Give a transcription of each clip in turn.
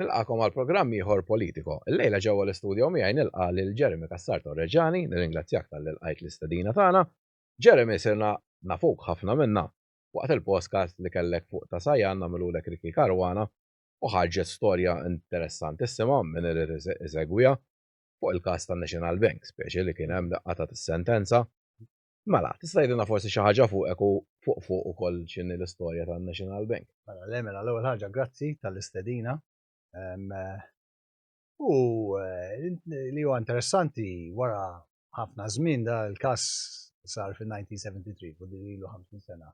Nilqakom għal programm ieħor Politico. Illejla ġewwa l-istudio miegħi nilqa' lil Jeremy Cassar Torreġani, nirringrazzjak talli lqajt l-istedina tagħna. Jeremy sirna nafuk ħafna minna waqt il-podcast li kellek fuq Ta' Sajan nagħmilulek Ricky Caruana u ħarġet storja interessanti issimha min irid isegwiha fuq il-każ tan-National Bank, speċi li kien hemm daqqa ta' sentenza Mela, tista' tgħidilna forsi xi ħaġa fuqek u fuq fuq ukoll x'inhi l-istorja tan-National Bank? Mela, le mela l-ewwel ħaġa grazzi tal-istedina. U li huwa interessanti wara ħafna żmien da l-każ sar fin-1973, u din ilu 50 sena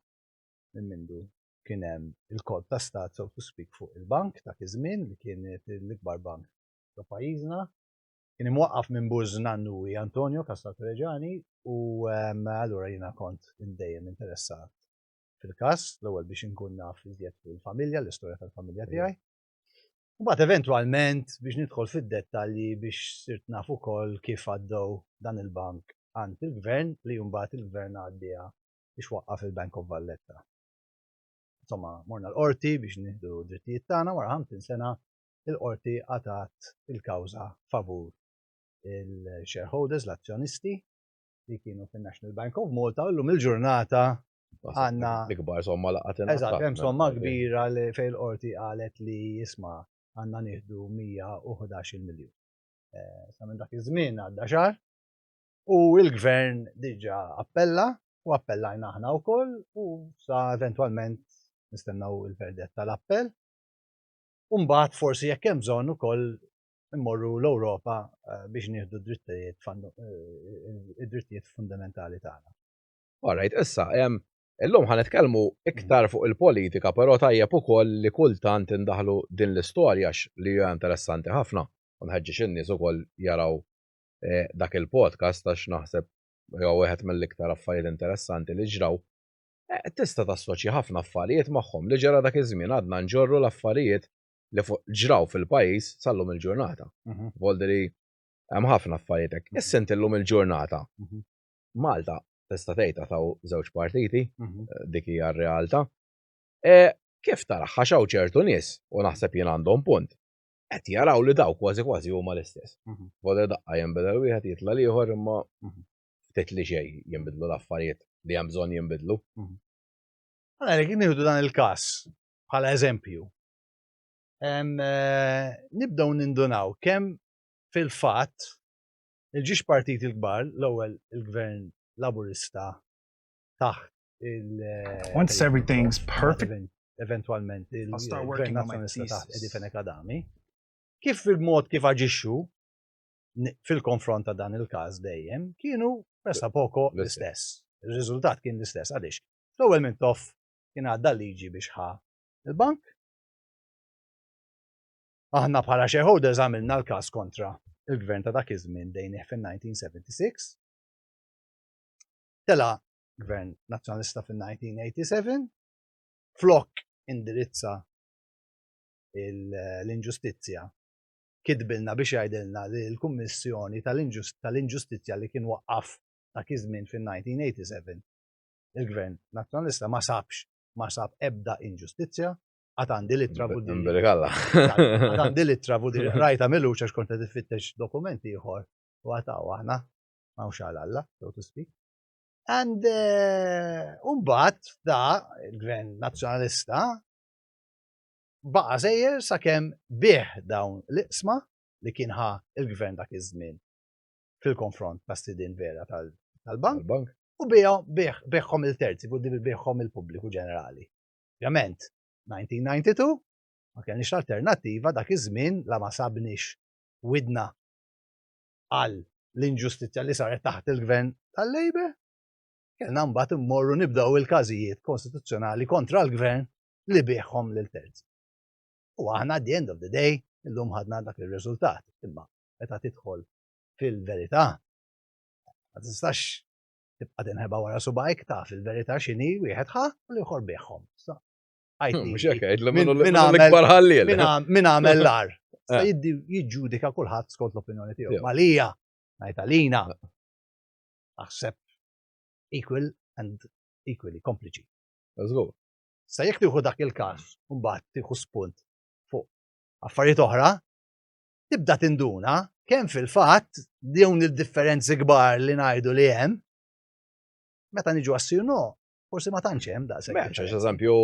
minn mindu kien hemm il-kolp ta' stat so to speak fuq il-bank dak iż-żmien li kien l-ikbar bank ta' pajjiżna kien imwaqqaf minn Buż Nannui Antonio Castalto Reggiani u allura jiena kont dejjem interessat fil-każ, l-ewwel biex inkun naf iżjed fuq il-familja, l-istorja tal-familja tiegħi. U mbagħad eventwalment biex nidħol fid-dettalji biex sirt naf ukoll kif għaddew dan il-bank għand il-gvern li mbagħad il-gvern għaddieha biex waqqaf il-Bank of Valletta. Insomma, morna l-qorti biex nieħdu drittijiet tagħna wara 50 sena il-qorti qatgħet il-kawża favur il-shareholders, l-azzjonisti, li kienu fin-National Bank of Malta, u llum il-ġurnata għandna. L-ikbar somma laqgħet inqas. Eżatt, hemm somma kbira li fejn il-qorti qalet li isma' għandna nieħdu 111 miljun. Sa minn dak iż-żmien għadda xahar u l-gvern diġà appella u appellajna aħna wkoll u sa eventwalment nistennew il-verdett tal-appell. u mbagħad forsi jekk hemm bżonn ukoll immorru l-Ewropa eh, biex nieħdu d-drittijiet eh, id-drittijiet fundamentali tagħna. Alright, issa, illum ħan nitkellmu iktar fuq il-politika, però tajjeb ukoll li kultant indaħlu din l-istorja li hija interessanti ħafna. U nħeġġeġ in-nies ukoll jaraw eh, dak il-podcast għax naħseb jew wieħed mill-iktar affarijiet interessanti li ġraw Eh, tista' tassoċja ħafna affarijiet magħhom li ġara dak iż-żmien għadna nġorru l-affarijiet li ġraw fil-pajjiż sal-lum il-ġurnata. Mhm. Voldri hemm ħafna affarijiet hekk. Mhm. Issint illum il-ġurnata. Mhm. Malta tista' tgħidha taw żewġ partiti, eh, dik hija r-realtà. Eh, kif tara ħaxaw ċertu nies u naħseb jien għandhom punt qed jaraw li daw kważi kważi huma l-istess. Mhm. Boda daqqa jinbidel wieħed jitla l-ieħor imma mhm. ftit li xej jinbidlu l-affarijiet li hemm bżonn jinbidlu. Mhm. Għalhekk nieħdu dan il-każ bħala eżempju. Eh, nibdew nindunaw kemm fil-fatt il-ġiex partit il-kbar, l-ewwel il-gvern laburista taħt il- eh, Once everything's perfect. Eventualment il-gvern nazzjonista taħt Edifenek Adami. Kif il-mod kif aġixxu fil-konfront ta' dan il-każ dejjem kienu pressa poko l-istess. Ir-riżultat kien l-istess għaliex l-ewwel minn toff kien għadda liġi biex ħa il-bank. Aħna bħala shareholders għamilna l-każ kontra il-gvern ta' dak iż-żmien dejnih fin-1976. Tela gvern nazzjonalista fin-1987 flok indirizza l-inġustizzja kitbilna biex jgħidilna li l-Kummissjoni tal-Inġustizzja li kien waqqaf dak iż-żmien fin-1987 il-Gvern Nazzjonalista ma sabx ma sab ebda inġustizzja għad għandi li travu din. Għad għandi li travu din. Rajta mill-uċa xkonta tifittex dokumenti ieħor u għataw aħna ma' uxal Alla, so to speak. And eh, umbat da, il-gvern nazjonalista, baqa' sejjer sakemm biegħ dawn l-iqsma li kien ħa l-Gvern dak iż-żmien fil-konfront ta' sidien vera tal-bank u biegħhom lil terzi, biegħhom lill-pubbliku ġenerali. Ovvjament, 1992 ma kellniex l-alternattiva dak iż-żmien la ma sabniex widna għal l-inġustizzja li saret taħt il-Gvern tal-Labour, kellna mbagħad immorru nibdew il-każijiet konstituzzjonali kontra l-Gvern li biegħhom lil terzi. U aħna at the end of the day illum ħadna dak ir-riżultat, imma meta tidħol fil-verità ma tistax tibqa' tinħeba wara subajk ta' fil-verità x'inhi wieħed ħa li ieħor biegħhom. Min għamel l-ar. Eh. Jiġġudika kulħadd skont l-opinjoni tiegħu. Malija, ngħid għalina, aħseb equal and equally kompliċi. Eżgur. Sa jekk tieħu dak il-każ, mbagħad tieħu spunt fuq affarijiet oħra, tibda tinduna kemm fil-fatt dawn il-differenzi kbar li ngħidu li hemm, meta niġu għassir no, forsi ma tantx hemm daqshekk. Meta eżempju,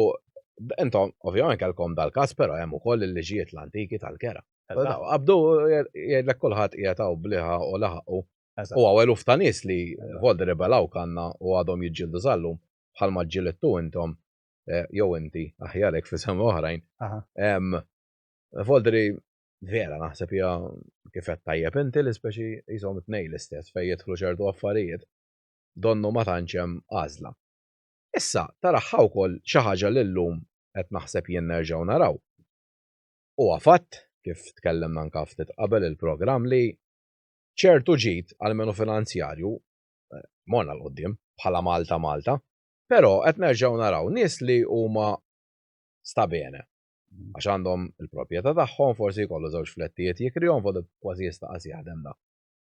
intom ovvjament kellkom dal-każ però hemm ukoll il-liġijiet l-antiki tal-kera. Abdu jgħidlek kulħadd qiegħed bliħa u laħaqu. U għawel uftanis li voldi rebelaw kanna u għadhom jiġġieldu żallum. bħalma ġġilidtu intom, jew inti, aħjar hekk f'isem oħrajn. Foldri vera naħseb hija kif qed tajjeb inti li speċi qishom it-tnejn l-istess fejn jidħlu ċertu affarijiet donnu ma tantx hemm għażla. Issa taraħħa wkoll xi ħaġa li llum qed naħseb jien nerġgħu naraw. Huwa fatt kif tkellimna anke ftit qabel il-programm li ċertu ġid għalmenu finanzjarju morna l qudiem bħala Malta Malta, però qed nerġgħu naraw nies li huma sta bene. Għax għandhom il-propjeta tagħhom, forsi jkollu żewġ flettijiet jikrihom fod kważi jista' qas jaħdem da.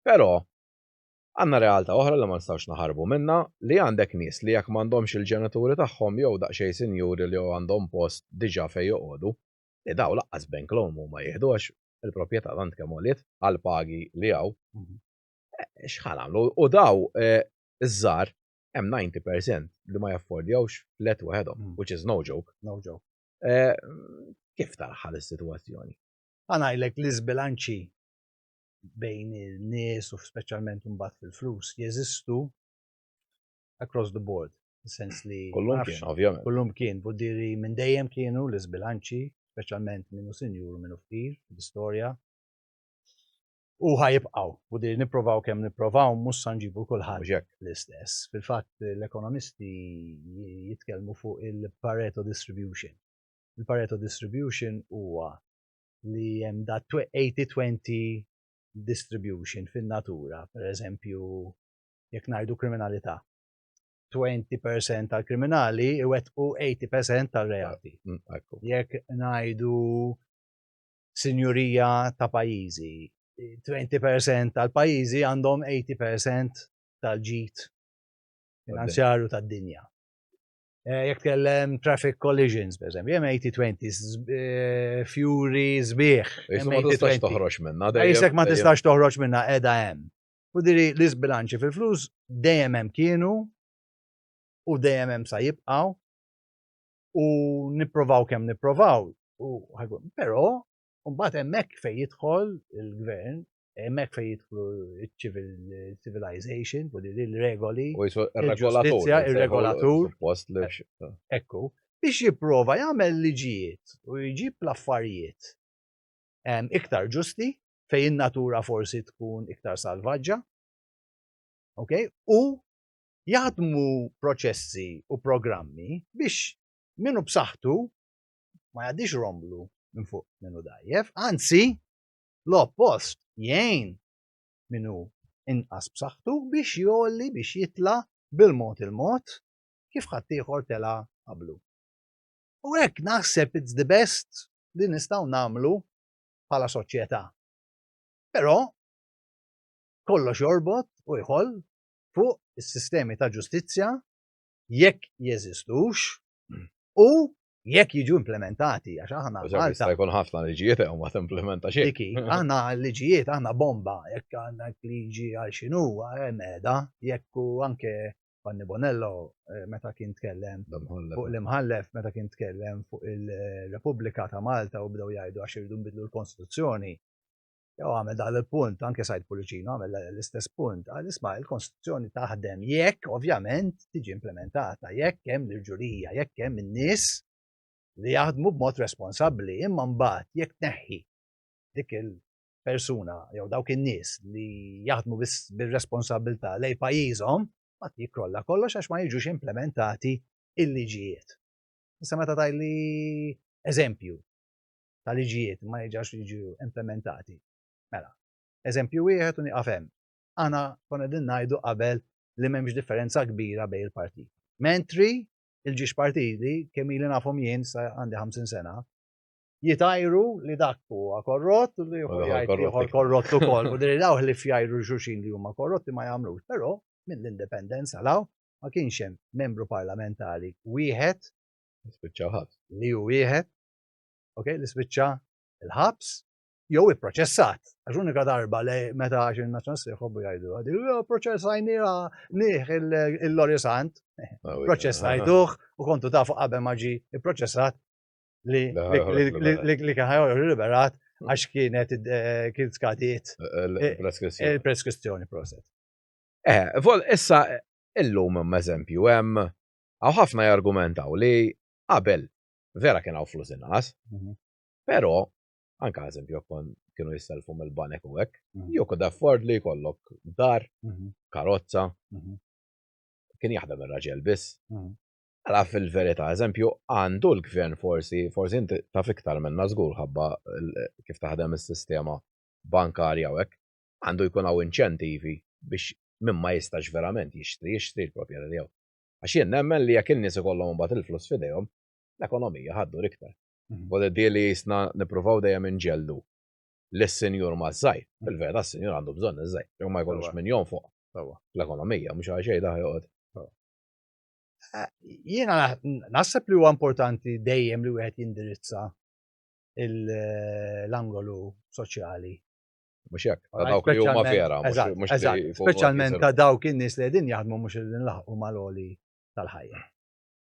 Però għandna realtà oħra li ma nistgħux naħarbu minnha li għandek nies li jekk m'għandhomx il-ġenituri tagħhom jew daqsxejn sinjuri li jew għandhom post diġà fejn joqogħdu, li daw laqqas bank loan huma jieħdu għax il-propjeta tant kemm għoliet għall-pagi li hawn. xħal għamlu. U daw, eh, iż-żar, hemm 90% li ma jaffordjawx flet waħedhom, hmm. which is no joke. No joke. Eh, kif tarħal is-sitwazzjoni? Għanajlek li zbilanċi bejn il-nies u speċjalment imbagħad fil-flus jeżistu across the board. Sens li. Kullum kien, ovvjament. Kullum kien, buddiri minn dejjem kienu l-izbilanċi, speċjalment minnu sinjur minnu ftir, l-istorja. u ħajibqaw. U di niprovaw kemm niprovaw mhux sa nġibu kulħadd l-istess. Fil-fatt l-ekonomisti jitkellmu fuq il-Pareto distribution. Il-Pareto distribution huwa li hemm da 80-20 distribution fin-natura, per eżempju, jekk ngħidu kriminalità. 20% tal-kriminali iwettqu 80% tal-reati. Mm, jekk ngħidu sinjurija ta' pajjiżi. 20% tal-pajjiżi għandhom 80% tal-ġid finanzjarju tad-dinja. Eh, jekk kellem traffic collisions, per eżempju, jem 80-20, eh, fury zbieħ. Ma tistax toħroġ minna. Isek ma tistax toħroġ minna, edha jem. U diri l izbilanċi fil-flus dejjem hemm kienu u dejjem hemm sa jibqaw. u nipprovaw kemm nipprovaw. Però mbagħad hemmhekk fejn jidħol il-gvern, hemmhekk fejn jidħlu civilization, u li l-regoli. U jisu regolatur. Il-regolatur. Ekku, biex jipprova jagħmel liġijiet u jġib l-affarijiet iktar ġusti fejn in-natura forsi tkun iktar salvaġġa. Ok? U jaħdmu proċessi u programmi biex min hu b'saħħtu ma jgħaddix romblu minn fuq min hu dgħajjef, anzi l-oppost jgħin min hu inqas b'saħħtu biex jolli biex jitla' bil-mod il-mod kif ħaddieħor tela' qablu. U hekk naħseb it's the best li nistgħu nagħmlu bħala soċjetà. Però kollox jorbot u jħoll fuq is-sistemi ta' ġustizzja jekk jeżistux u jekk jiġu implementati, għax aħna. Malta jkun ħafna liġijiet u ma timplementa xejn. Diki, aħna liġijiet, aħna bomba, jekk għandna liġi għal xinu, meda, jekk u anke Fanni Bonello eh, meta kien tkellem fuq l-imħallef, meta kien tkellem fuq il-Repubblika ta' Malta u bdew jgħidu għax irridu nbidlu l-Konstituzzjoni. jew għamel dan il-punt, anke Sajd Pulicino għamel l-istess punt, għal isma il-Konstituzzjoni taħdem jekk ovvjament tiġi implementata, jekk hemm l-ġurija, jekk hemm in-nies li jaħdmu b'mod responsabbli, imma mbagħad jekk neħħi dik il-persuna jew dawk in-nies li jaħdmu bir-responsabilità lej pajjiżhom, ma jikrolla kollox għax ma jiġux implementati il-liġijiet. Issa meta tajli eżempju, ta' liġijiet ma jiġax jiġu implementati. Mela, eżempju wieħed u nieqaf hemm. Aħna konna din ngħidu qabel li m'hemmx differenza kbira bejn il-partit. Mentri il-ġiex partiti kemm ili nafhom jien sa għandi 50 sena, jitajru li dak huwa korrott u li huwa korrott ukoll. U diri daw li fjajru xuxin li huma korrotti ma jagħmlux. Però mill-indipendenza law ma kienx hemm membru parlamentari wieħed li hu wieħed ok, li spiċċa il-ħabs, jew ipproċessat. Għax unika darba li meta għax il-Nazzjonal se jħobbu jgħidu għadi, proċessajnija nieħ il-Lori Sant, ah, proċessajtuħ u kontu tafu qabel maġi ipproċessat li li kien ħajor liberat għax kienet eh, kien skadiet eh, eh, il-preskrizzjoni proset. Eh, vol issa illum eżempju hemm għaw ħafna jargumentaw li qabel Vera kien hawn flus inqas, mhm. però anka eżempju kon kienu jisselfu mill-banek u hekk, mhm. jew kod afford li jkollok dar, mhm. karozza, kien jaħdem ir-raġel biss. Għala fil-verità, eżempju, għandu l-gvern forsi, forsi inti taf iktar minna żgur ħabba kif taħdem is-sistema bankarja u hekk, għandu jkun hawn inċentivi biex minn ma jistax verament jixtri, jixtri l-proprjetà tiegħu. Għax jien nemmen li jekk in-nies ikollhom imbagħad il-flus f'idejhom, l-ekonomija ħa ddur iktar. Kważi tidhir li qisna nippruvaw dejjem inġelldu lis-sinjur maż-żgħir. Fil-verità s-sinjur għandu bżonn iż-żgħir, jekk ma jkollux min jonfoq fl-ekonomija, mhux għalxejn daħ joqgħod. Jiena naħseb li huwa importanti dejjem li wieħed jindirizza l-angolu soċjali Mhux hekk, ta' dawk li huma vera, speċjalment ta' dawk in-nies li qegħdin jaħdmu mhux qegħdin laħqu mal-għoli tal-ħajja.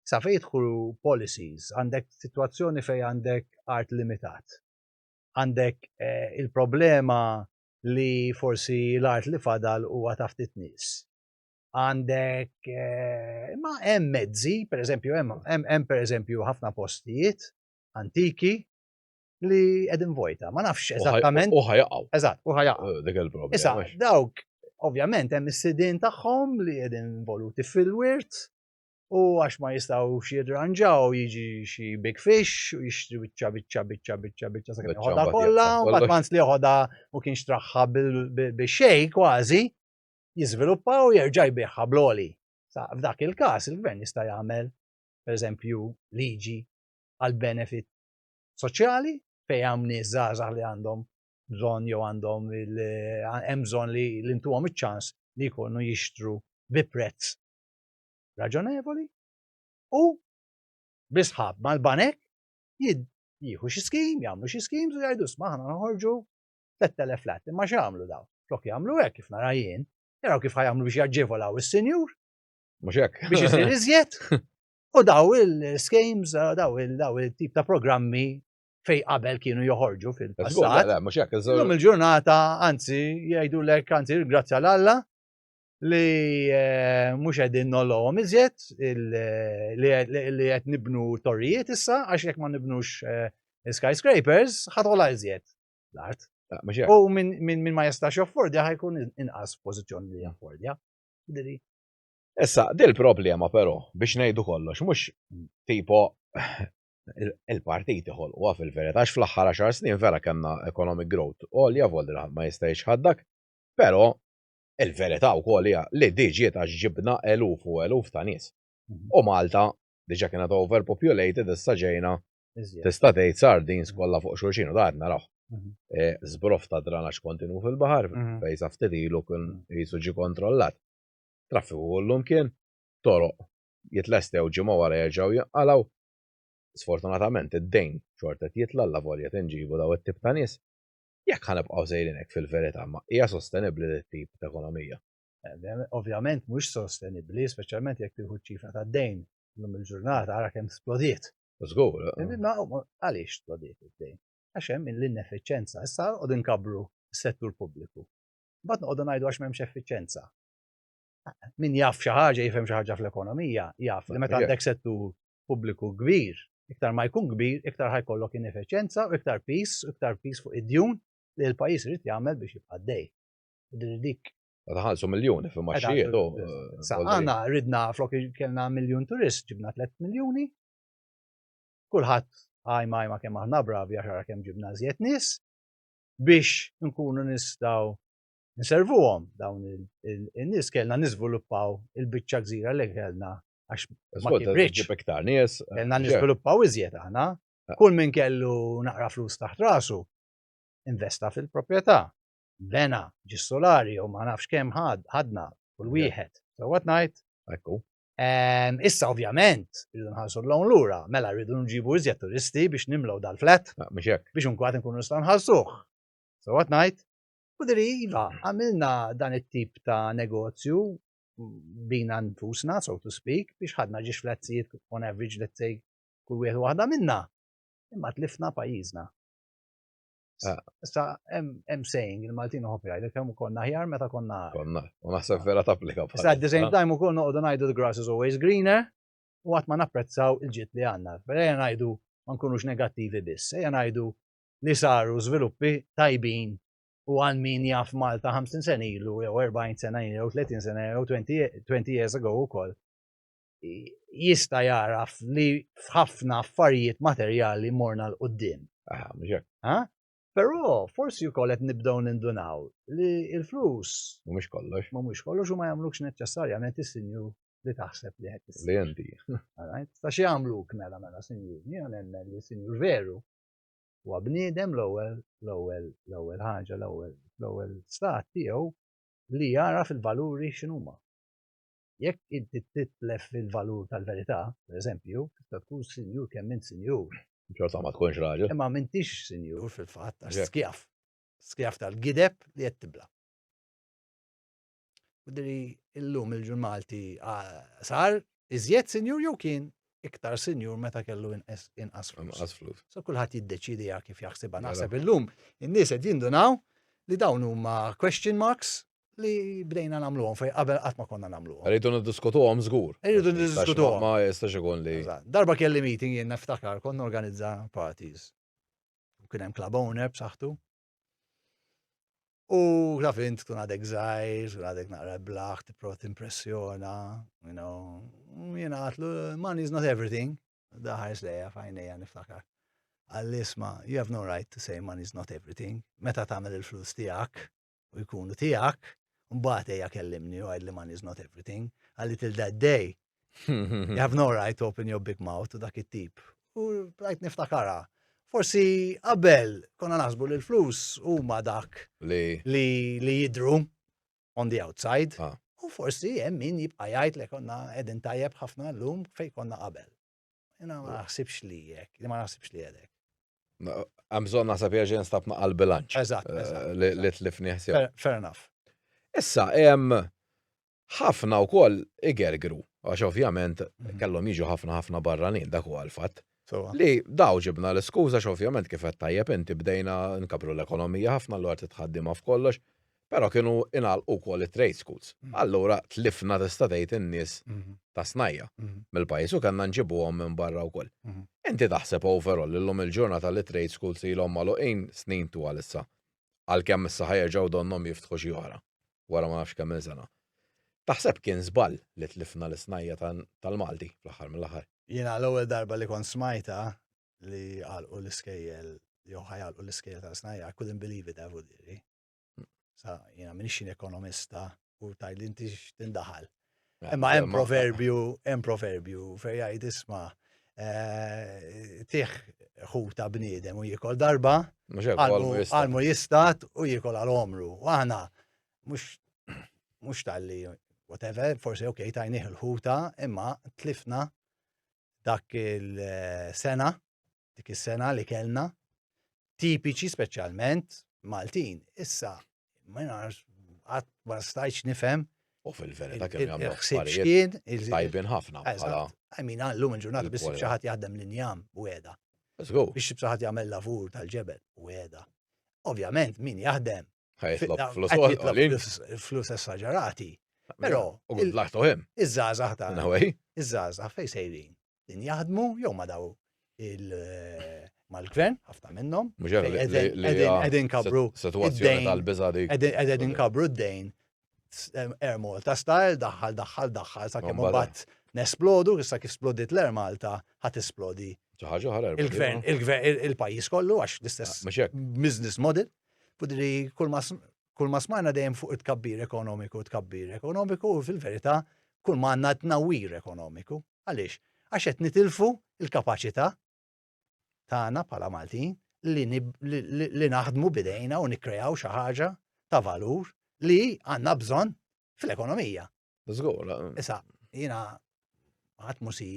Sa fejn jidħlu policies, għandek sitwazzjoni fejn għandek art limitat. Għandek eh, il-problema li forsi l-art li fadal huwa ta' ftit nies. Għandek eh, ma hemm mezzi, pereżempju hemm hemm pereżempju ħafna postijiet antiki li edin vojta, ma nafx eżattament. U ħajaqaw. Eżatt, u ħajaqaw. Eh, dik il-problema. Issa, dawk, ovvjament, hemm is-sidin tagħhom li edin voluti fil-wirt u għax ma jistaw xidranġaw jiġi xi big fish u jixtri bicċa bicċa bicċa bicċa bicċa sa' kien joħodha kollha, u bat manz li joħodha u kien xtraħħa bil-xej kważi, jiżviluppa u jerġa' jbiħħa bloli. Sa' f'dak il-każ il-gvern jista' jagħmel, per eżempju, liġi għal benefit soċjali fejn hemm nies żgħażagħ li għandhom bżonn jew għandhom hemm bżonn li ntuhom iċ-ċans li jkunu jixtru bi prezz raġonevoli u bisħab mal-banek jieħu xi skim, jagħmlu xi skim, u jgħidu sma ħana noħorġu 3000 flat, imma x'għamlu daw? Flok jagħmlu hekk kif nara jien, jaraw kif ħajamlu biex jaġġevolaw is-senjur. Mhux hekk. Biex isir iżjed. U daw il-schemes, daw il-tip ta' programmi fej qabel kienu joħorġu fil-passat. Illum il-ġurnata, anzi, jgħidu lek, anzi, grazzja l-Alla, li eh, mux għedin nolom iżjed, li għed nibnu torrijiet issa, għax jek ma nibnux eh, skyscrapers, ħatola iżjed l-art. U minn ma jistax joffordja ħajkun inqas pozizjoni li joffordja. Issa, dil problema però, biex ngħidu kollox, mhux tipo il-partiti ħolquha fil-verità, għax fl-aħħar 10 snin vera kellna economic growth għolja volder ħadd ma jista' jixħaddak, però il-verità wkoll hija li diġiet għax ġibna eluf u eluf ta' nies. Mhm. U Malta diġa kienet overpopulated issa ġejna tista' tgħid sardins kollha fuq xulxin u daħna naraw. Mhm. E, Zbrof ta' dranax kontinu fil-baħar, mhm. fejsa ftit ilu kien jisu ġi kontrollat. Traffiku kullum kien, toroq jitlestew ġimgħa wara jerġgħu jinqalgħu. Sfortunatament id-dejn xorta qed jitla' allavolja tinġiebu dawn it-tip ta' nies. Jekk ħa nibqgħu sejrin hekk fil-verità ma hija sostenibbli din it-tip t'ekonomija. Ovvjament mhux sostenibbli, speċjalment jekk tieħu ċ-ċifra tad-dejn illum il-ġurnata ara kemm splodiet. Żgur. Imma għaliex splodiet id-dejn? Għax hemm l-ineffiċjenza. Issa noqogħdu nkabbru s-settur pubbliku. Mbagħad noqogħdu ngħidu għax m'hemmx effiċenza. Min jaf xi ħaġa jifhem xi ħaġa fl-ekonomija, jaf li meta għandek settur pubbliku kbir, iktar ma jkun kbir, iktar ħajkollok ineffiċenza, iktar pis, iktar pis fuq id-djun li l-pajjiż irid jagħmel biex jibqa' dej. Dik Għadħalsu miljoni fi maċċijiet. Għana ridna flok kellna miljon turist, ġibna 3 miljoni. Kulħadd għajma għajma kemm aħna bravi għaxara kemm ġibna zjet nis. biex nkunu nistaw nservuhom dawn il-nies kellna niżviluppaw il-biċċa gżira li kellna għax ma kibrix. Kellna niżviluppaw iżjed aħna. Ah. Kull min kellu naqra flus taħt rasu investa fil-proprjetà. Bena, ġis solari jew ma nafx kemm ħadna kull wieħed. Sewwa ngħid. Ekku. Ehm, issa ovvjament, rridu nħarsu l-lawn lura, mela rridu nġibu iżjed turisti biex nimlaw dal-flat. Ah, biex unkwat nkunu nistgħu nħarsuh. So what night? U diri, iva, għamilna dan it-tip ta' negozju bina nfusna, so to speak, biex ħadna ġiex flatzijiet on average, let's say, kull wieħed waħda minna. Imma tlifna pajjiżna. Ah. Sta, hemm saying, il-Maltin uħob jgħid, kemm konna ħjar meta konna. Konna, u naħseb vera tapplika bħal. Sta, at the same time ukoll noqogħdu ngħidu the grass is always greener, u qatt ma napprezzaw il-ġid li għandna. Ejja ngħidu ma nkunux negattivi biss, ejja ngħidu li saru żviluppi tajbin u għal min jaf Malta 50 sen ilu, jew 40 sena ilu, jew 30 sena, jew 20 years ago ukoll. jista' jagħraf li f'ħafna affarijiet materjali morna 'l quddiem. Aha, mhux hekk. Ha? Però forsi wkoll qed nibdew nindunaw li l-flus. Mhumiex kollox. Mhumiex kollox u ma jagħmlukx neċċessarjament is-sinjur li taħseb li qed issir. Li inti. Ta' xi jagħmluk mela mela sinjur. Jiena nemmen li sinjur veru huwa bniedem l-ewwel l-ewwel l-ewwel ħaġa l-ewwel l-ewwel stat tiegħu li jara fil-valuri x'inhuma. Jekk inti titlef il-valur tal-verità, per eżempju, tista' tkun sinjur kemm int sinjur. Xorta ma tkunx raġel. Imma m'intix sinjur fil-fatt għax skjav. Skjav tal-gideb li qed tibla'. Jidhirli llum il-ġur Malti sar iżjed sinjur jew kien iktar sinjur meta kellu inqas flus. So kulħadd jiddeċiedi kif jaħsibha. Naħseb illum in-nies qed jindunaw li dawn huma question marks li bdejna nagħmluhom fejn qabel qatt ma konna nagħmluhom. Rridu niddiskutuhom żgur. Rridu niddiskutuhom. Ma jistax ikun li. Darba kelli meeting jien niftakar konna organizza parties. U kien hemm club owner b'saħħtu. U taf int tkun għadek żgħir, tkun għadek naqra blaħ, tipprot impressjona, you know. Jien għatlu, money is not everything. Daħar slejja fajnejja niftakar. Għallisma, you have no right to say money is not everything. Meta tagħmel il-flus tiegħek, u jkunu tiegħek, mbagħad ejja kellimni u għidli money is not everything, għalli till that day. You have no right to open your big mouth to dak it-tip. U rajt niftakara. Forsi qabel konna naħsbu li l-flus huma dak li jidru on the outside. Ah. U forsi hemm min jibqa' jgħid li konna qegħdin tajjeb ħafna llum fejn konna qabel. Jena ma naħsibx li jek, li ma naħsibx li jedek. Għamżon naħseb jieġen stab ma għal-bilanċ. Eżat, eh, Li tlifni ħsib. Fair enough. Issa, jem ħafna u koll igergru, għax ovvjament mhm. kellhom jiġu ħafna ħafna barranin, dak u għal-fat. Li daw ġibna l-skuza, għax ovvjament kif qed tajjeb inti bdejna nkabru l-ekonomija ħafna l-għart tħaddima f'kollox. Però kienu ingħalqu wkoll it-trade schools. Allura tlifna tista' tgħid in-nies ta' snajja' mill-pajjiż u kellna nġibuhom minn barra wkoll. Inti taħseb overall illum il-ġurnata li t-trade schools ilhom magħluqin snin twal issa, għalkemm issa ħa jerġgħu donnhom jiftħu xi oħra wara ma nafx kemm-il sena. Taħseb kien żball li tlifna l-isnajja' tal-Malti fl-aħħar mill-aħħar? Jiena l-ewwel darba li kont smajtha li għalqu l-iskejjel jew ħa jgħalqu l-iskejjel tal-isnajja' I couldn't believe it devo dirhi. Sa, jena minix xin ekonomista u taj li inti x'tindaħal. Eh, Imma hemm proverbju, hemm proverbju fej jgħid isma' eh, tiħ ħuta bniedem u jikol darba, għalmu jistat u jikol għal omru. U għana, mux tal-li, whatever, forse ok, tajniħ il-ħuta, imma tlifna dak il-sena dik is-sena li kellna, tipiċi speċjalment Maltin. Issa, ma nafx, għat ma stajċ nifhem. U fil-verita kemm jagħmlu affarijiet tajbin ħafna. Għamin għallum il-ġurnata biss xaħat jaħdem l-injam u għeda. Biex xaħat jagħmel lavur tal-ġebel u għeda. Ovvjament min jaħdem flus esagerati. Pero, iż-żazax ta' iż-żazax fej sejrin. din jaħdmu jew ma daw il mal-gvern, ħafna minnhom. Qegħdin kabru. Situazzjoni tal-biża dik. Qegħdin kabru d-dejn. Air Malta style, daħħal, daħħal, daħħal, sa' kemm bat nesplodu, issa kif splodit l-Air Malta, ħat esplodi. Il-gvern, il-gvern, il-pajis kollu, għax l-istess ah, business model. Fudri, kull ma smajna dejjem fuq it-kabbir ekonomiku, it-kabbir ekonomiku, fil-verita, kull ma għanna t-nawir ekonomiku. Għaliex? Għax qed nitilfu l-kapaċità tagħna bħala Maltin li naħdmu bidejna u nikkrejaw xi ħaġa ta' valur li għandna bżonn fl-ekonomija. Żgur. Issa, jiena ħadd musi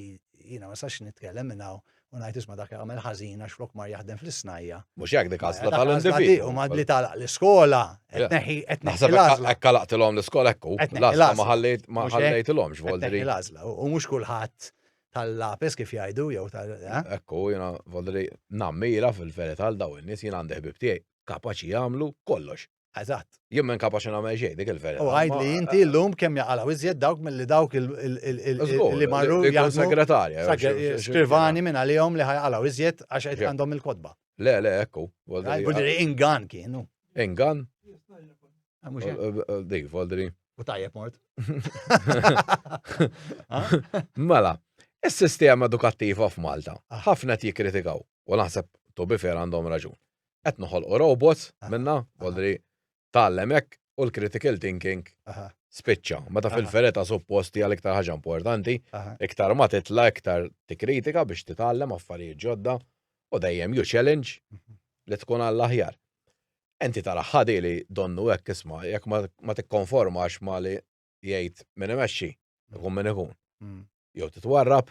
jiena ma sax nitkellem minnaw u ngħid isma' dak jagħmel ħażin għax flok mar jaħdem fl-isnajja. Mhux hekk dik għażla tal-individ. U mad li talaq l-iskola, qed neħi qed neħi l-għażla. Hekk kalaqtilhom l-iskola hekk hu. L-għażla ma ħallejt ma ħallejtilhomx Voldri. L-għażla u mhux kulħadd tal-lapis kif jgħidu jew tal. Eh? Ekku jiena Voldri nammira fil-verità għal daw in-nies jien għandi ħbib tiegħi kapaċi jagħmlu kollox. Eżatt. Jien minn kapaċi nagħmel xejn dik il-verità. U għajd li inti llum kemm jaqalaw iżjed dawk milli dawk li marru jgħidu segretarja. Skrivani minn għalihom li ħajqalaw iżjed għax qed għandhom il-kodba. Le, le, ekku. Voldri ingan kienu. Ingan? Ah, eh, eh, eh, dik, Voldri. U tajjeb mort. Mela, is-sistema edukattiva f'Malta ħafna qed jikkritikaw u naħseb to bifer għandhom raġun. qed noħolqu robots minna, għodri tgħallem hekk u l-critical thinking spiċċa. Meta fil-fereta supposti għal iktar ħaġa importanti, iktar ma titla iktar tikkritika biex titgħallem affarijiet ġodda u dejjem ju challenge mhm. li tkun għall-aħjar. Enti tara ħadi li donnu hekk isma' jekk ma tikkonformax ma li jgħid minn imexxi, ikun minn ikun. Mm. Jew titwarrab,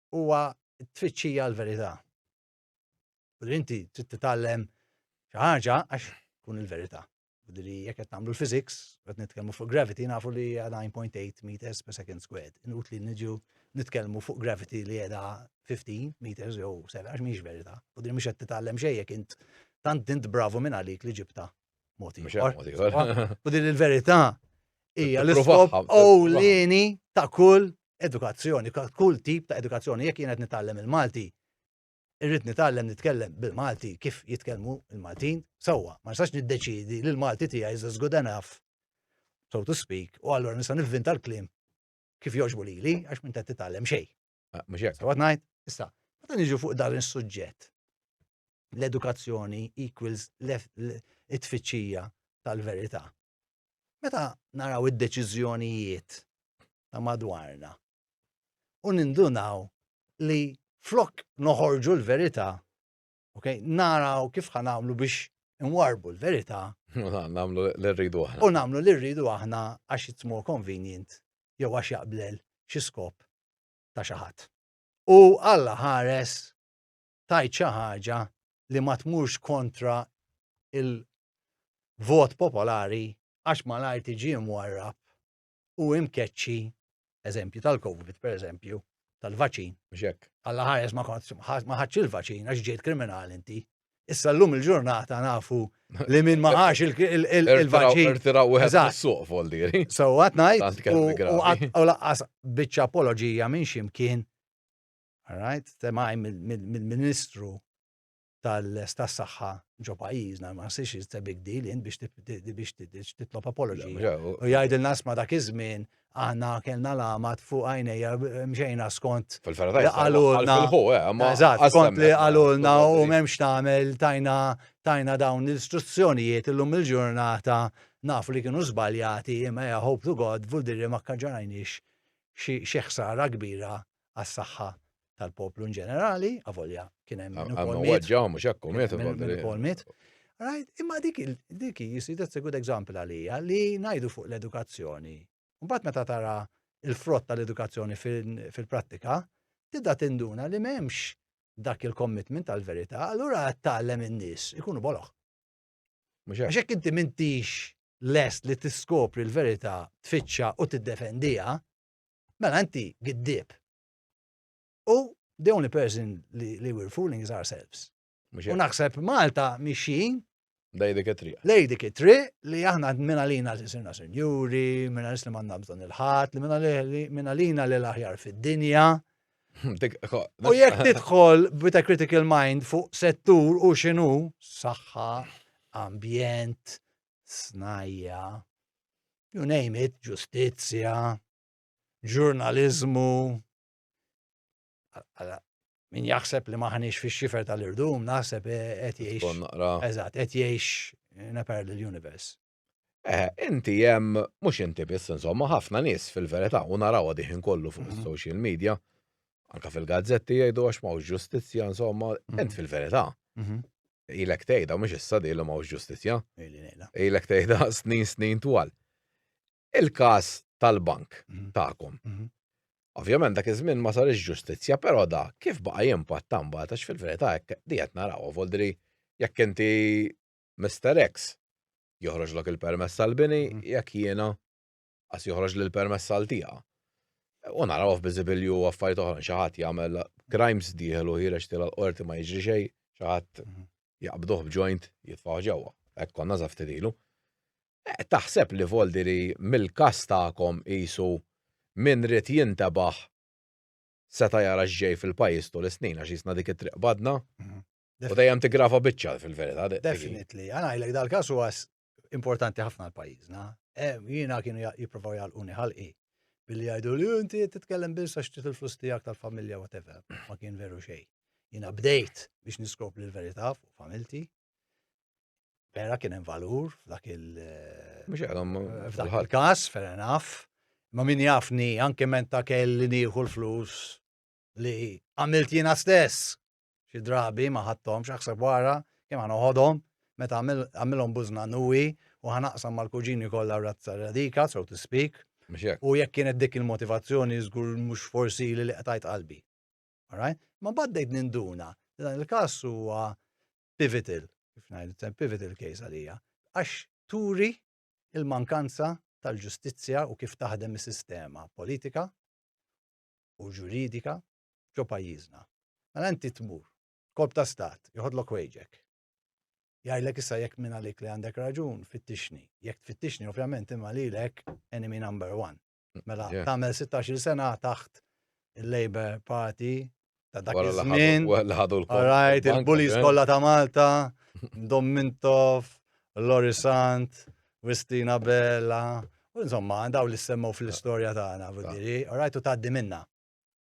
huwa t-tfittxija l-verità. U li inti trid titgħallem xi ħaġa għax tkun il-verità. U li jekk qed nagħmlu l-physics, qed nitkellmu fuq gravity, nafu li 9.8 meters per second squared. Inut li niġu nitkellmu fuq gravity li qiegħda 15 meters jew 7 għax mhix verità. U din mhux qed titgħallem xejn jekk int tant int bravu minn għalik li ġibta Moti. U din il-verità hija l-iskop ewlieni ta' kull edukazzjoni, ta' kull tip ta' edukazzjoni. Jekk jien qed nitgħallem il-Malti, irrid nitgħallem nitkellem bil-Malti kif jitkellmu il-Maltin sewwa. Ma nistax niddeċidi li l-Malti tiegħi is as good enough, so to speak, u allura nista' nivvinta l-kliem kif jogħġbu lili għax minn qed titgħallem xejn. Ah, mhux hekk, għad ngħid, issa, meta niġu fuq dan is-suġġett, l-edukazzjoni equals it-tfittxija tal-verità. Meta naraw id-deċiżjonijiet ta' madwarna u nindunaw li flok noħorġu l-verità Ok, naraw kif ħan għamlu biex nwarbu l-verità. Namlu l-rridu aħna. U namlu l-rridu aħna għax it's more convenient jew għax jaqblel xi skop ta' xi ħadd. U Alla ħares tajt xi ħaġa li ma tmurx kontra il-vot popolari għax malajr tiġi mwarrab u imkeċċi eżempju tal-COVID, per eżempju, tal-vaċin. Mxek. Alla ħares ma kontx ma ħadx il-vaċin għax ġejt kriminali inti. Issa l-lum il-ġurnata nafu li minn ma ħax il-vaċin. Irtiraw u suq voldiri. So għat najt u laqqas bieċa apologija minn ximkien. Alright, temaj mill-ministru tas-saħħa ġo pajjiżna, ma nsirx it's a big deal int biex titlob apology. U jgħidilna sma dak iż-żmien aħna kellna lamat fuq għajnejja mxejna skont li għalulna. Eh, skont li għalulna u memx tagħmel tajna tajna dawn l-istruzzjonijiet illum il-ġurnata nafu li kienu żbaljati imma ja hope to God vuldiri ma kkaġġarajniex xi ħsara kbira għas-saħħa tal-poplu in ġenerali, avolja kien hemm min ukoll miet. Ġaw mhux hekk miet ukoll miet. Right, imma dik dik jisir that's a good example għalija li ngħidu fuq l-edukazzjoni. Mbagħad meta tara il-frott tal-edukazzjoni fil-prattika, tibda tinduna li m'hemmx dak il-commitment tal-verità, allura tgħallem in-nies ikunu boloħ. Għax hekk inti mintix lest li tiskopri l-verità, tfittxa u tiddefendiha, mela inti giddib. U the only person li, li we're fooling is ourselves. U naħseb Malta mixin. Lej dik it-triq. Lej dik it-triq li aħna minna lina li sirna senjuri, minna li manna bżon il-ħat, li minna lina li l-aħjar fid-dinja. U jekk tidħol with a critical mind fuq settur u xinu, saħħa, ambjent, snajja, you name it, ġustizzja, ġurnaliżmu min jaħseb li maħniex fix xifer tal-irdum, naħseb eh, qed jgħix. Eżatt, qed jgħix in a parallel universe. Eh, inti jem, mux inti biss, insomma, ħafna nis fil-verita, u narawa diħin kollu fuq mhm. social media, anka fil-gazzetti jgħidu għax mawx ġustizja, insomma, mhm. int fil-verita. Mhm. Ilek tejda, mux issa di li mawx ġustizja. Ilek tejda snin snin twal. Il-każ tal-bank tagħkom. Ovvjament dak iż-żmien ma sarix ġustizzja, però da kif baqa' jimpatta mbagħad għax fil-verità hekk di qed narawha voldri jekk inti Mr. X joħroġlok il-permess tal-bini mhm. jekk jiena għas joħroġ l permess għal tiegħa. U naraw f'biżibilju affarijiet oħra xi ħadd jagħmel crimes dieħlu ħireġ tila l-qorti ma jiġri xejn, xi ħadd mhm. jaqbduh b'joint jitfaw ġewwa. Hekk konna żaftidilu. Qed taħseb li Voldiri mill-każ tagħkom qisu min ried jintebaħ seta' jara x'ġej fil-pajjiż tul is-snin għax qisna dik it-triq badna? U dejjem tiggrava biċċa fil-verità. Definitely. Għana ngħidlek dal-każ huwa importanti ħafna għal pajjiżna. Jiena kienu jippruvaw jgħalquni ħalqi billi jgħidu li inti titkellem biss għax trid il-flus tiegħek tal-familja whatever. Ma kien veru xejn. Jiena bdejt biex niskop l-verità fuq familti vera kien hemm valur f'dak il- eh, Mhux għalhom eh, f'dak fil-ħadd. il-każ, fair enough. Ma min jafni anke menta kelli nieħu l-flus li għamilt jiena stess. Xi drabi ma ħadthom x'aħseb wara kemm ħa noħodhom meta għamil- għamilhom bużna nuwi u ħanaqsam mal-kuġini kollha razza radika, so to speak. Mhux hekk. U jekk kienet dik il-motivazzjoni żgur mhux forsi li li qtajt qalbi. Alright? Ma baddejt ninduna li dan il-każ huwa pivotal, kif ngħidu, pivotal case għalija, għax turi il-mankanza tal-ġustizzja u kif taħdem is-sistema politika u ġuridika ġo pajjiżna. Mela inti tmur, korp ta' stat, joħodlok wejġek. Jgħidlek issa jekk minn għalik li għandek raġun, fittixni. Jekk tfittixni, ovvjament, imma lilek enemy number one. Mela, tagħmel 16 sena taħt il-Labour Party ta' dak iż-żmien. Alright, il-bullies eh? kollha ta' Malta, Dom Mintoff, Lori Sant, Wistina Bella, u insomma, daw li semmu fl-istorja tagħna, vudiri, alright, u tgħaddi minna.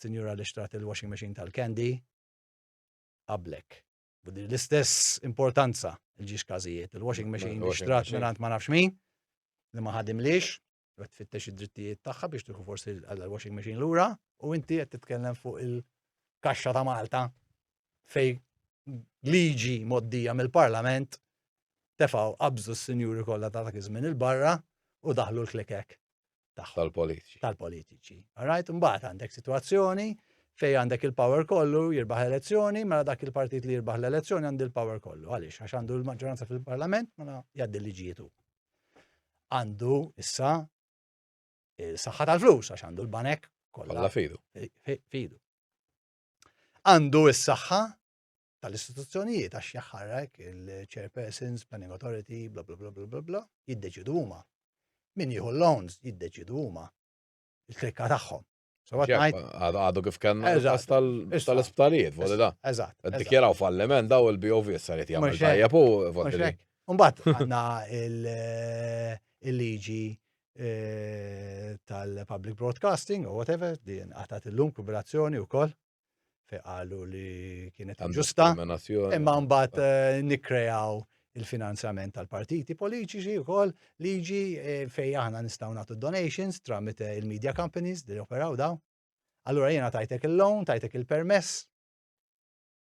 sinjura li xtrat il-washing machine tal-candy, qablek. U din l-istess importanza il-ġiex kazijiet, il-washing machine li xtrat minant ma nafx min, li ma ħadimlix, u għed fittex id-drittijiet tagħha biex tieħu forsi l-washing machine lura, u inti qed titkellem fuq il-kaxxa ta' Malta fej liġi moddija mill-Parlament tefaw qabżu s-sinjuri kollha ta' dak iż-żmien il-barra u daħlu l-klikek. tagħhom. Tal-politiċi. Tal-politiċi. Alright, mbagħad għandek sitwazzjoni fej għandek il-power kollu jirbaħ elezzjoni, mela dak il-partit li jirbaħ l-elezzjoni għandu il-power kollu. Għaliex, għax għandu l-maġġoranza fil-parlament, mela jgħaddi liġietu. Għandu issa il-saħħa tal-flus, għax għandu l-banek kollha. Kollha fidu. Fidu. Għandu is-saħħa tal-istituzzjonijiet għax jaħħarrek il-chairpersons, planning authority, bla bla bla bla bla bla, jiddeċidu huma. Min jieħu l-loans jiddeċidu huma. Il-klikka tagħhom. Għadu kif kellna tal-isptarijiet, voli da. Eżatt. Dikjeraw falliment daw il-BOV saret jagħmel tajjeb u voli. Umbat għandna eh, il-liġi eh, tal-public broadcasting u whatever, din għatat il-lum kuberazzjoni u koll. fej qalu li kienet ġusta, imma mbagħad ah. eh, nikkrejaw il-finanzjament tal-partiti politiċi wkoll liġi eh, fej aħna nistgħu nagħtu donations tramit eh, il-media companies li operaw daw. Allura jiena tajtek il-loan, tajtek il-permess.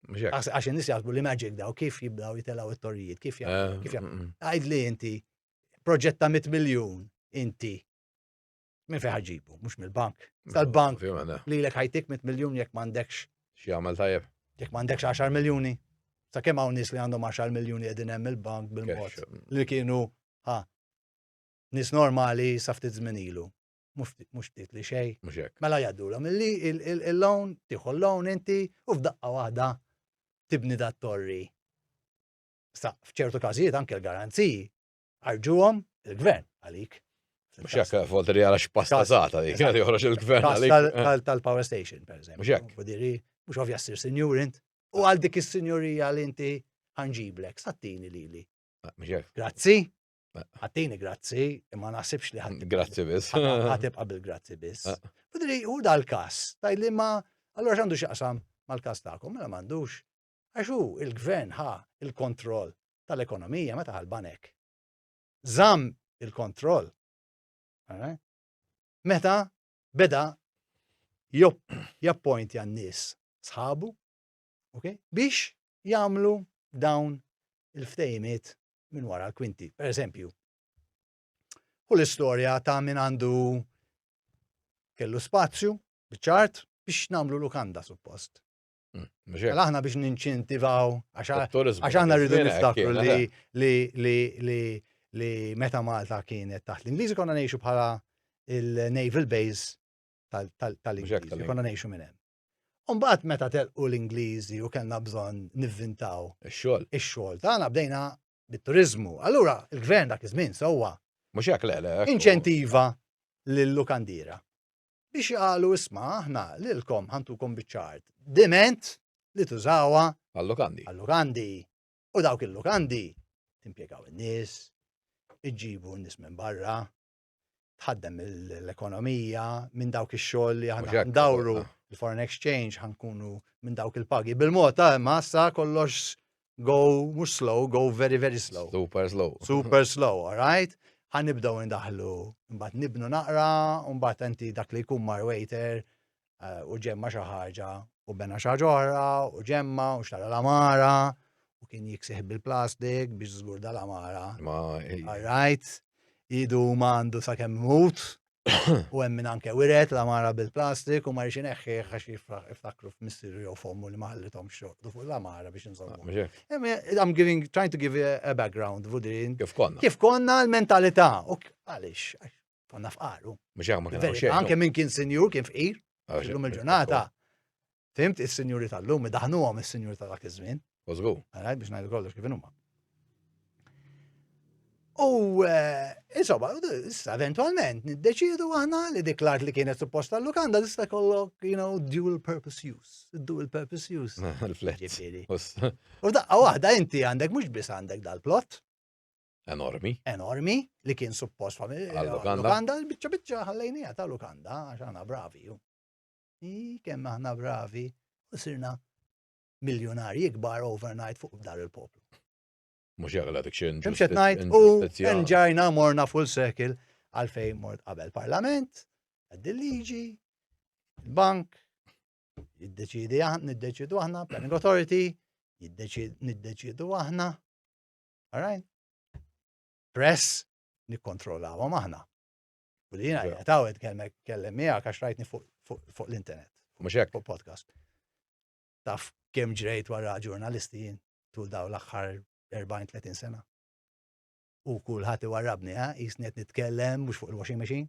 Għax in-nies jaħsbu li magic daw kif jibdaw jitelaw it-torrijiet, kif jgħid mm, mm. li inti proġetta mit miljun inti Minn fejn ħaġibu, mhux mill-bank. Tal-bank li lek ħajtik mit miljun jekk m'għandekx. Xi għamel tajjeb. Jekk m'għandekx 10 miljuni. Sa kemm hawn nies li għandhom 10 miljuni qegħdin hemm il-bank bil-mod mm. li kienu ha nies normali sa ftit żmien ilu. Mhux ftit li xejn. Mhux hekk. Mela jgħaddulhom illi il-lawn tieħu l-lawn inti u f'daqqa waħda tibni dat torri. Sa f'ċertu każijiet anke l-garanziji Arġuhom il-gvern għalik. Mux jek volta li għala xpasta zata li kħed joħroġ il-gvern għalik. Eh. Tal-power station, per eżempju. Mux jek. Fudiri, mux ovvja s-sir senjur int. U għal dik il-senjurija li inti għanġiblek, sattini li li. Ah, mux jek. Grazzi. Ah. Għattini grazzi, imma nasibx li għattini. Grazzi bis. Għatib qabel grazzi bis. Ah. Fudiri, u dal-kas, taj li ma, allora xandu xaqsam mal-kas ta'kom, ma mela mandux. għax hu l-gvern ħa l-kontroll tal-ekonomija meta ħa l-banek. Żamm il-kontroll. Eh? Meta beda jappointi għan-nies sħabu okay? biex jagħmlu dawn il-ftejmiet minn wara l-kwinti. Per eżempju, u l-istorja ta' min għandu kellu spazju, bċart, biex namlu lukanda suppost. Għal aħna biex ninċentivaw, għax aħna rridu niftakru li meta Malta kienet taħt l-Ingliżi konna nejxu bħala il-Naval Base tal-Ingliżi, konna nejxu minn hemm. Umbaħt meta telqu l-Ingliżi u kellna bżonn nivvintaw ix-xogħol. Ix-xogħol tagħna bdejna bit-turiżmu. Allura il-gvern dak iż-żmien sewwa. Mhux hekk le le. Inċentiva lill-lukandira biex qalu isma' aħna lilkom ħantukom biċ-ċart. Diment li tużawha għall-lukandi. Għall-lukandi. U dawk il-lukandi timpjegaw in-nies, iġġibu n-nies minn barra, tħaddem l-ekonomija minn dawk ix-xogħol li aħna ndawru ah. l-foreign exchange ħankunu minn dawk il-pagi. Bil-mod ta' ah, massa kollox go mhux slow, go very very slow. Super slow. Super slow, all right? Ħanibdew indaħlu, mbagħad nibnu naqra, mbagħad enti dak li jkun mar waiter eh, u ġemma xi ħaġa u bena xi ħaġa oħra u ġemma u xtara l-amara u kien jiksih bil-plastik biex żgur dal-amara. Rajt, idu ma għandu sa' kemm mut u hemm minn anke wiret l-amara bil-plastik u ma rixin eħħi għax jiftakru f'missiru jew fommu li ma ħallithom xorqdu fuq l-amara biex nżommu. Ah, I'm giving, trying to give a background, Vudrin. Kif konna? Kif konna l-mentalità? Għalix, Konna fqar, u. Mux għamma kien xejn. Anke minn kien sinjur kien fqir. Ah, illum il-ġurnata, fimt is-sinjuri tal-lum, daħnu għom is-sinjur ta' dak iż-żmien. Użgu. Għarajt biex najdu kollox kif huma. U eh, insomma, issa eventualment niddeċidu aħna li dik l-art li kienet supposta tal-lukanda tista' kollok, you know, dual purpose use. Dual purpose use. U daqqa waħda inti għandek mhux biss għandek dal-plot. Enormi. Enormi, li kien suppost għal-Lukanda. Bicċa bicċa ħallejnija ta' Lukanda, għax għana bravi. I kemm aħna bravi, u sirna miljonari ikbar overnight fuq dar il-poplu. Mux jagħla dik xejn. Mxet najt u nġajna morna full circle għalfejn mort qabel parlament, għaddi liġi, bank, jiddeċidi aħna, niddeċidu aħna, planning authority, niddeċidu aħna, Alright? Press nikkontrollawhom aħna. U li jiena jgħataw kellem miegħek għax rajtni fuq l-internet. Mhux hekk. Fuq podcast. Taf kemm ġrejt wara ġurnalisti jien tul daw l-aħħar 40-30 sena. U kulħadd iwarrabni, ha, jisnet nitkellem mhux fuq il-washing machine,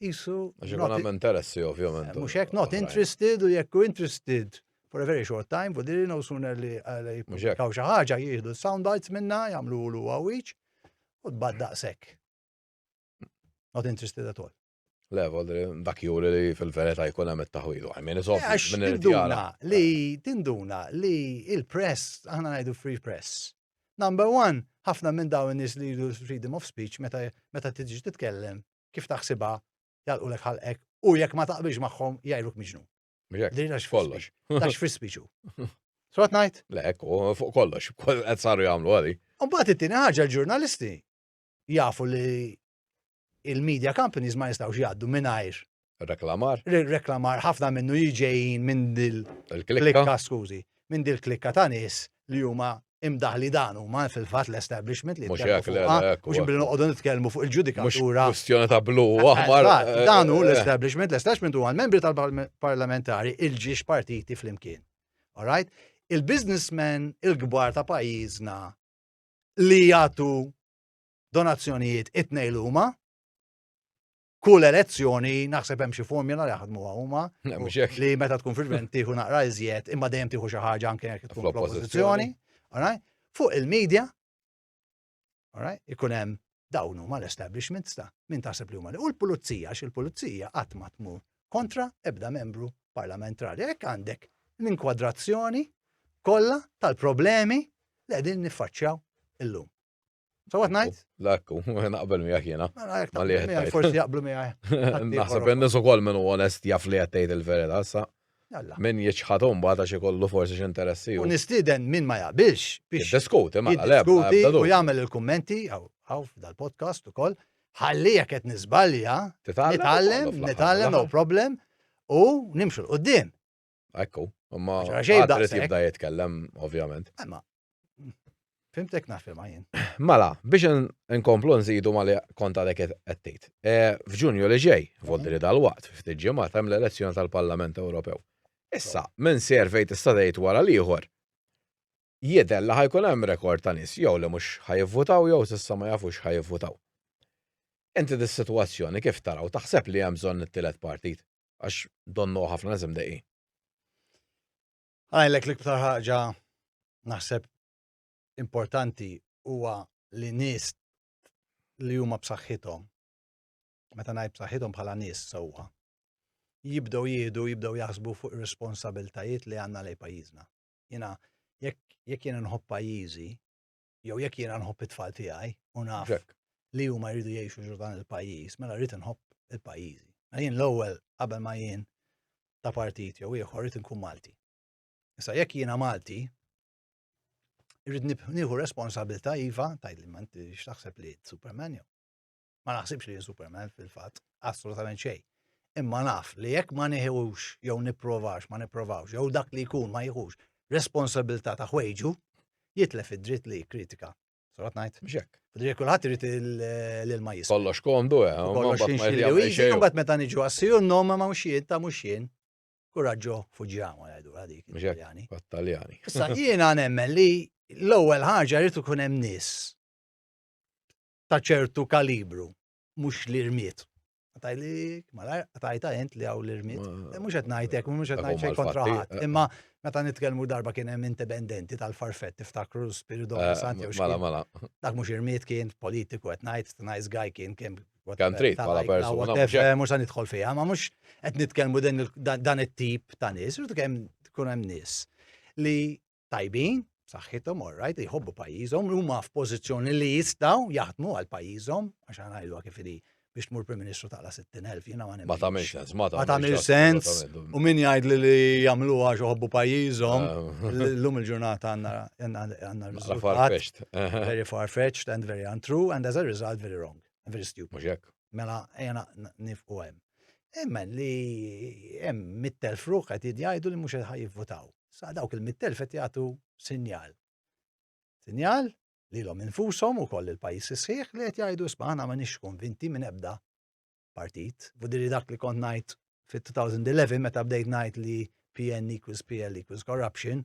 isu. Għax ikun hemm interessi ovvjament. Mhux hekk not interested u jekk interested for a very short time, u diri no sooner li jippublikaw xi ħaġa jieħdu sound bites minna, jagħmlu lu għawiċ u tbad daqshekk. Not interested at all. Le, vodri, dak juri li fil-verita jkun hemm it-taħwilu. Għajmin, iżob, tinduna li, tinduna li il-press, aħna ngħidu free press. Number one, ħafna minn dawn in-nies li jridu freedom of speech meta tiġi titkellem kif taħsibha jagħlqulek ħalqek u jekk ma taqbilx magħhom jgħidluk miġnun. Dejna x'kollox. Tax free speech hu. Sot ngħid? Le, fuq kollox, qed saru jagħmlu għali. U mbagħad it-tieni ħaġa l-ġurnalisti jafu li il-media companies ma jistgħux jgħaddu mingħajr Reklamar. Reklamar ħafna minnu jiġejjin minn dil. Il-klikka. Skużi, minn dil klikka ta' nies li huma imdaħli dan huma fil-fatt l-establishment li mhux hekk mhux billi noqogħdu nitkellmu fuq il-ġudikatura. Kwistjoni ta' blu aħmar. Eh, dan hu eh. l-establishment, l-establishment huwa l-membri tal-parlamentari il-ġiex partiti flimkien. All right? il-biznismen il-kbar ta' pajjiżna li jagħtu donazzjonijiet it-tnejn huma kull elezzjoni naħseb hemm xi formula li jaħdmuha huma li meta tkun fil-gvern tieħu naqra iżjed imma dejjem tieħu xi ħaġa anke jekk tkun fl-oppożizzjoni. Fuq il-medja, ikun hemm dawn huma l-establishment sta min taħseb li huma li u l-pulizija għax il-pulizija qatt ma tmur kontra ebda membru parlamentari. Hekk għandek l-inkwadrazzjoni kollha tal-problemi li qegħdin niffaċċjaw illum. Sawat najt? Lakku, naqbel miegħek jiena. Mela, ma li qed Forsi jaqblu miegħek. Naħseb in-nies ukoll minn onest jaf li qed tgħid il-verità sa. Min jiċħad mbagħad għax ikollu forsi x'interessi. U nistieden min ma jaqbilx biex. Diskuti, ma diskuti u jagħmel il-kummenti għaw dal-podcast ukoll. Ħalli jekk qed niżbalja, nitgħallem, nitgħallem no problem u nimxu l-qudiem. Ekku, imma għadret jibda jitkellem, ovvjament. Imma, fimtek nafil ma jien. Mela, biex nkomplu nżidu ma li konta dek għettejt. E, F'ġunju li ġej, vodri mhm. dal-waqt, ftit ġimgħat hemm l-elezzjoni tal-Parlament Ewropew. Issa, minn servej tista' tgħid wara l-ieħor, jidher li ħajkun hemm rekord ta' nies jew li mhux ħajivvutaw jew s'issa ma jafux ħajivvutaw. Inti dis-sitwazzjoni kif taraw taħseb li hemm bżonn it-tielet partit? għax donnu ħafna nies imdejqin. Għajlek l-iktar ħaġa naħseb importanti huwa li nies li huma b'saħħithom meta ngħid b'saħħithom bħala nies sewwa jibdew jieħdu, jibdew jaħsbu fuq ir-responsabiltajiet li għandna lej pajjiżna. Jiena jekk jekk jien nħobb pajjiżi, jew jekk jiena nħobb it-tfal tiegħi u naf li huma jridu jgħixu ġur dan il-pajjiż, mela rrid nħobb il-pajjiżi. Mela jien l-ewwel qabel ma jien ta' partit jew ieħor rrid nkun Malti. Issa jekk jiena Malti, irrid nieħu responsabilità iva, tajli ma inti x'taħseb li Superman jew. Ma naħsibx li Superman fil-fatt, assolutament xejn. Imma naf li jekk ma nieħux jew nipprovax, ma nipprovawx, jew dak li jkun ma jieħux responsabilità ta' ħwejġu, jitlef id-dritt li kritika. Sarat ngħid? Mxek. Fidri kulħadd irid l-ilma jisma. Kollox komdu, eh, kollox xinxilli. Imbagħad meta niġu għassiju n-nom ma mhux jien ta' mhux jien. Kuraġġo fuġjamu għadu għadik. Mxek. Taljani. Issa jiena nemmen li l-ewwel ħaġa rrid ikun hemm nies ta' ċertu kalibru, mhux li rmiet. Għatajlik, malar, għatajta jent li għaw l-irmit. Eh, mux għetnajtek, mux għetnajt xej kontra ħat. Eh. Imma meta nitkelmu darba kien hemm indipendenti tal-farfett tiftakru l-spiridu eh, santi u Mala, mala. Dak mux irmit kien politiku għetnajt, nice guy kien kien. Kan trit, pala persona. Mux għan nitħol fija, ma mux għet nitkelmu dan it-tip ta' nis, rritu kem tkun hemm nis li tajbin, b'saħħithom, all right, jħobbu pajjiżhom, huma f'pożizzjoni li jistgħu jaħdmu għal pajjiżhom, għax għana jgħidu kif li biex tmur Prim Ministru taqla 60,000 jiena ma Ma tagħmel sens, ma tagħmel sens. U min jgħid li li jagħmlu għax uħobbu pajjiżhom, eh. llum il-ġurnata għandna riżultat. Very far-fetched and very untrue and as a result very wrong, very stupid. Mela ejja nifqu hemm. Imma li hemm mit-telf ruħ qed jgħidu li mhux qed jivvutaw. Sa dawk il-mit-telf qed jagħtu sinjal. Sinjal li l-om infushom ukoll il-pajjiż isħiħ li qed jgħidu isma' aħna ma nix konvinti minn ebda partit. Vudiri dak li kont ngħid fit-2011 meta bdejt ngħid li PN equals PL equals corruption.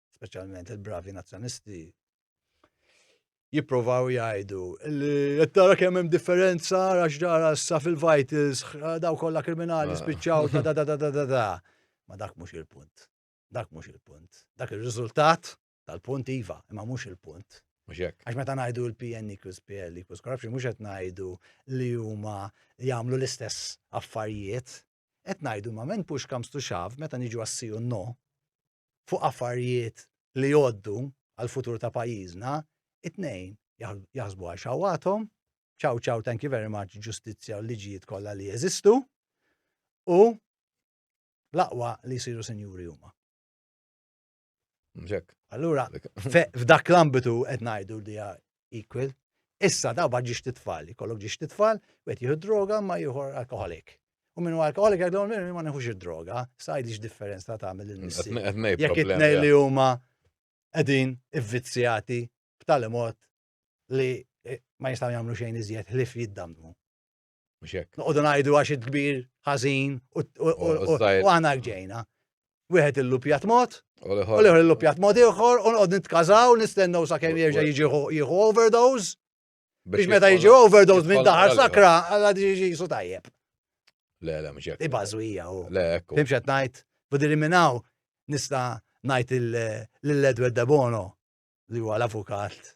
speċjalment il-bravi nazzjonisti, jipprovaw jgħidu li qed tara kemm hemm differenza għax ġara sa fil-vitals daw kollha kriminali ah. spiċċaw da da da da da da. Ma dak mhux il-punt. Dak mhux il-punt. Dak ir-riżultat tal-punt iva, imma mhux il-punt. Għax meta ngħidu l-PN equals PL equals corruption, mhux qed ngħidu li huma jagħmlu l-istess affarijiet. Qed ngħidu ma men push comes to shove meta niġu għassiju no, fuq affarjiet li jgħoddu għall-futur ta' pajjiżna, it-tnejn jaħsbu għal xawwathom, ciao ciao thank you very much ġustizzja u l-liġijiet kollha li jeżistu u l-aqwa li jsiru sinjuri huma. Allura, f'dak l-ambitu qed ngħidu li equal. Issa daw bad ġiex titfal, jkollok ġiex titfal, wet jieħu droga ma jieħu alkoholik. U minnu alkoholik għadhom minnu ma neħux id-droga, sajd ix differenza ta' għamil il-missi. Jek it-nej li huma għedin ivvizzjati b'tali mod li eh, ma jistaw jagħmlu xejn iżjed ħlif jiddamnu. Mhux hekk. Noqogħdu ngħidu għax il-kbir ħażin u għana ġejna. Wieħed illupjat mod, u l-ieħor illupjat mod ieħor, u nqogħdu nitkażaw nistennew sakemm jerġa' jiġi jieħu overdose. Biex meta jiġi overdose minn daħar sakra, għalla jiġi jisu tajjeb. Le, le, mhux hekk. Ibażwija u. Le, ekku. Fimx qed ngħid, budi minnaw nista' ngħid l-Edward Debono li huwa l-avukat